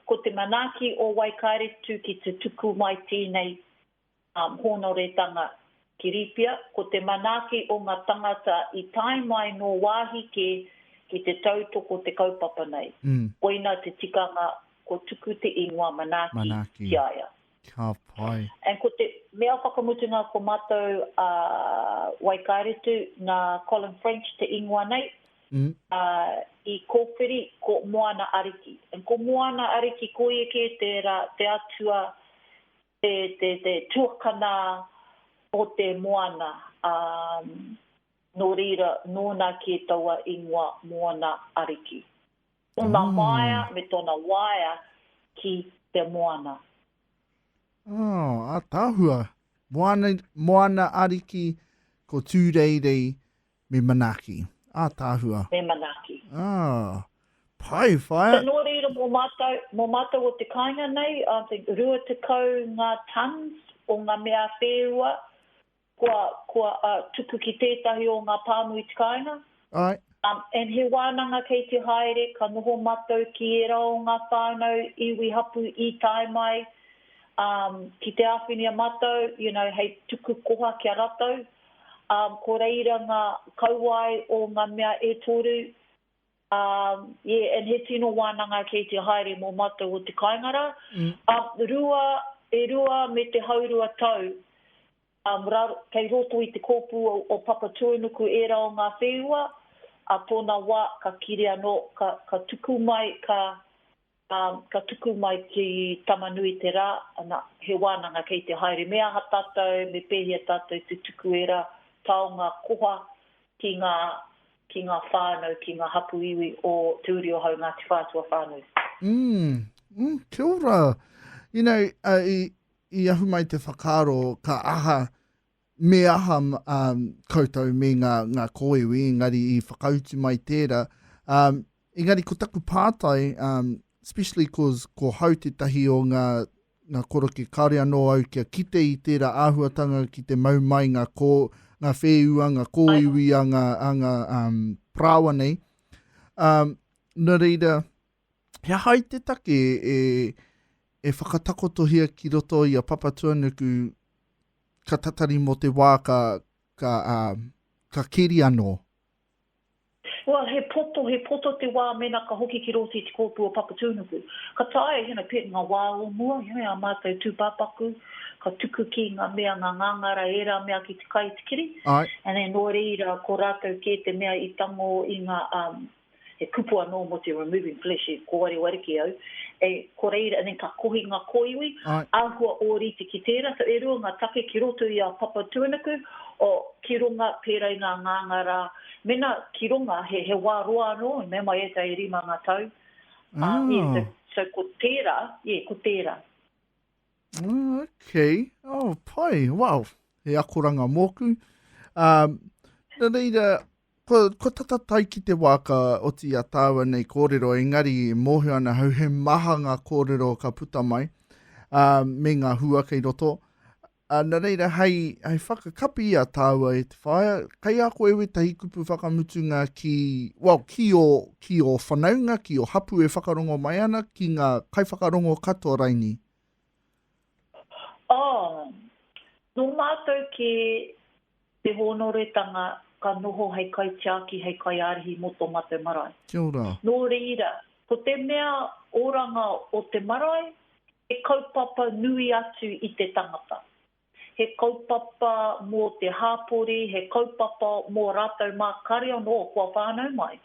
Ko te manaaki o Waikaeretu ki te tuku mai tēnei Hōnoretanga ki Rīpia, ko te manaaki o ngā tangata i tae mai nō wāhi kē ki te tautoko te kaupapa nei. Koina te tikanga kua tuku te ingoa manaaki ki a ia. And ko te mea whakamutunga ko mātou a Waikaretu nā Colin French te ingoa nei, ā, i kōwhiri ko Moana Ariki. And ko Moana Ariki, ko ia kē tērā te atua Te, te, te tuakana o te moana, ā, nō reira, nōna kē taua ingoa Moana Ariki. Tōna māia me tōna waea ki te moana. Oh, ātaahua. Moana, Moana Ariki, ko Tūreirei, Me manaaki. Ātaahua. Me manaaki. Ah. Pai, whaea. So nō reira mō mātou, mō mātou o te kāinga nei, I think, 20 ngā tons o ngā mea whēua kua, kua uh, tuku ki tētahi o ngā pāmu i te kāinga. Ai. Um, and he wānanga kei te haere, ka noho mātou ki ērā o ngā whānau iwi hapu i tae mai, um, ki te āwhinia mātou, you know, hei tuku koha ki a ratou. ā, ko reira ngā kauae o ngā mea e toru, ā, ye, and he tino wānanga kei te haere mō mātou o te kāinga rā, ā, rua, e rua me te haurua tau, ā, ra, kei roto i te kōpū o, o Papatūānuku ērā o ngā whēua, ā tōna wā ka kiri anō, ka, ka tuku mai, ka, Ā, ka tuku mai ki Tama-nui-te-rā, ana, he wānanga kei te haere. Me aha tātou, me pēhea tātou te tuku ērā taonga koha ki ngā, ki ngā whānau, ki ngā hapū iwi o Te Uri o Hau, Ngāti Whātua whānau? Umm, umm, kia ora. You know, i, i ahu mai te whakaaro, ka aha, me aha um, koutou me ngā, ngā kōiwi, engari i whakautu mai tērā. Um, engari ko taku pātai, um, especially cause ko hau tētahi o ngā, ngā koroke, kāore anō au kia kite i tērā āhuatanga ki te mau mai ngā, kō, ngā whēua, ngā kōiwi a ngā, a ngā um, parāoa nei. Um, nā reira, He aha i te take e, e whakatakotohia ki roto i a Papatuanuku ka tatari mō te wā ka, ka, uh, ka keri anō? Well, he poto, he poto te wā mēnā ka hoki ki roto i te kōpū o Papatuanuku. Ka taea, you know, pea ngā wā o mua, you know, ā mātou tūpāpaku, ka tuku ki ngā mea, ngā ngāngara, ērā mea ki te kai i te kiri. Āe. And then nō reira, ko rātou kē te mea i tango i ngā, um, he kupu anō mō te removing flesh i kōarewariki au, e, ko reira, and then ka kohi ngā kōiwi, āhua ōrite ki tērā, so e rua ngā take ki roto i a Papatūānuku, oh, ki runga, pērā i ngā ngāngā rā, mēnā ki runga, he, he wā roa anō, mea mai e ta e rima ngā tau, ā, yeah, so, so ko tērā, yeah, ko tērā. Oh, okay, oh, pai, wow, he akoranga mōku. Um, nā reira, Ko, ko tata tae ki te wā ka oti a tāua nei kōrero, engari e mōhio ana hau he maha ngā kōrero ka puta mai, ā, me ngā hua kei roto. Ā, nā reira, hei, hei whakakapi i a tāua e te whaea, kei a koe wētahi kupu whakamutunga ki, well, ki ō, ki ō whanaunga, ki ō hapū e whakarongo mai ana, ki ngā kaiwhakarongo katoa raini? Oh, nō mātou kē te hōnoretanga ka noho hei kaitiaki, hei kaiārahi mō tō mātou marae. Kia ora. Nō reira, ko te mea oranga o te marae, he kaupapa nui atu i te tangata. He kaupapa mō te hāpori, he kaupapa mō rātou mā kare anō kua whānau mai.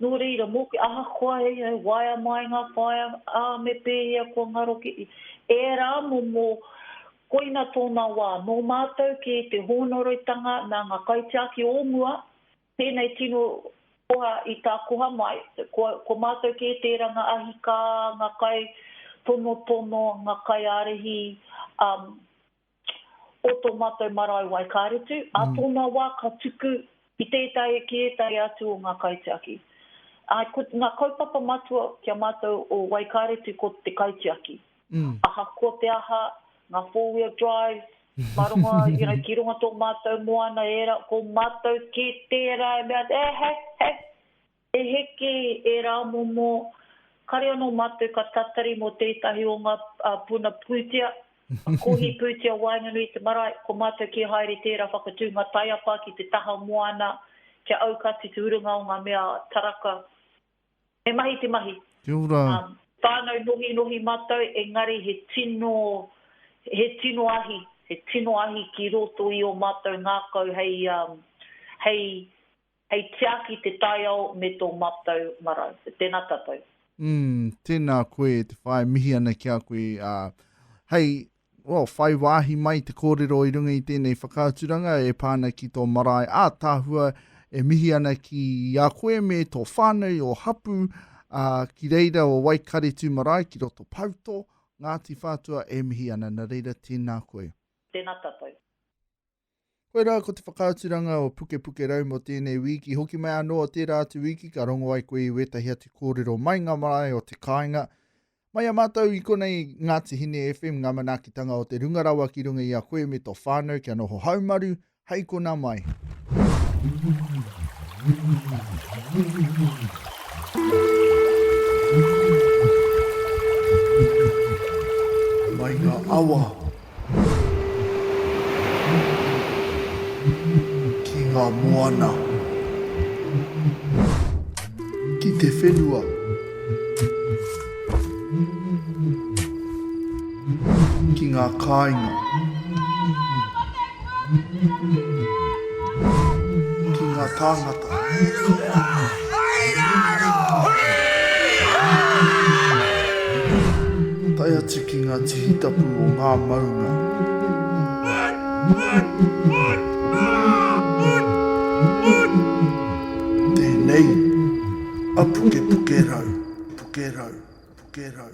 Nō reira, mōku, ahakoa he waea mai ngā whaea, ā, me pēhea kua ngaro ki ērā momo, koina tōna wā. Nō mātou ki te hōnoroitanga nā ngā kaitiaki o mua, Tēnei tino koha i tā koha mai, ko mātou kē tērā ngā ahi kā, ngā kai tonotono, ngā kai ārahi o tō mātou marae Waikaretu, ā tōna wā ka tuku ki tētahi, ki ētahi atu o ngā kaitiaki. Ā, ko ngā kaupapa matua ki a mātou o Waikaretu ko te kaitiaki. Ahakoa te aha, ngā four wheel drives, mā runga, you know, ki runga tō mātou moana, ērā, ko mātou kē tērā e mea, eh, he, he, he heke ērā momo, kare anō mātou ka tatari mō tētahi o ngā puna pūtea, kohi pūtea waenganui i te marae, ko mātou kē haere tērā whakatūnga taiapa ki te taha moana, kia aukati te urunga o ngā mea taraka, He mahi te mahi. Kia ora. Whānau nohinohi matou engari he tino he tino ahi he tino ahi ki roto i o matou ngakau hei hei hei tiaki te taiao me to matou marau. Tena tatou. Umm tena koe te whae mihi ana ki a koe a hei Well, whai wāhi mai te kōrero i runga i tēnei whakaaturanga e pā ana ki tō marae ātaahua, e mihi ana ki a koe me tō whānau o Hapu, ā, ki reira o Waikaretu marae ki roto Pauto, Ngāti Whātua, e mihi ana, nā reira tēnā koe. Tēnā tatou. Koirā ko te whakaaturanga o Pukepukerau mō tēnei wīki, hoki mai anō o tērā atu wīki ka rongo ai koe i wētahi atu kōrero mai ngā marae o te kāinga. Mai a mātou i konei Ngāti Hine FM ngā manaakitanga o te Runga Rawa ki runga i a koe me tō whānau kia noho haumaru hei kona mai. Mai ngā awa Ki ngā moana. Ki te whenua. Ki ngā kāinga. ki nga tāngata. Tae atu ki nga tihitapu o nga maunga. Tenei a pukepuke rau, puke rau, puke rau.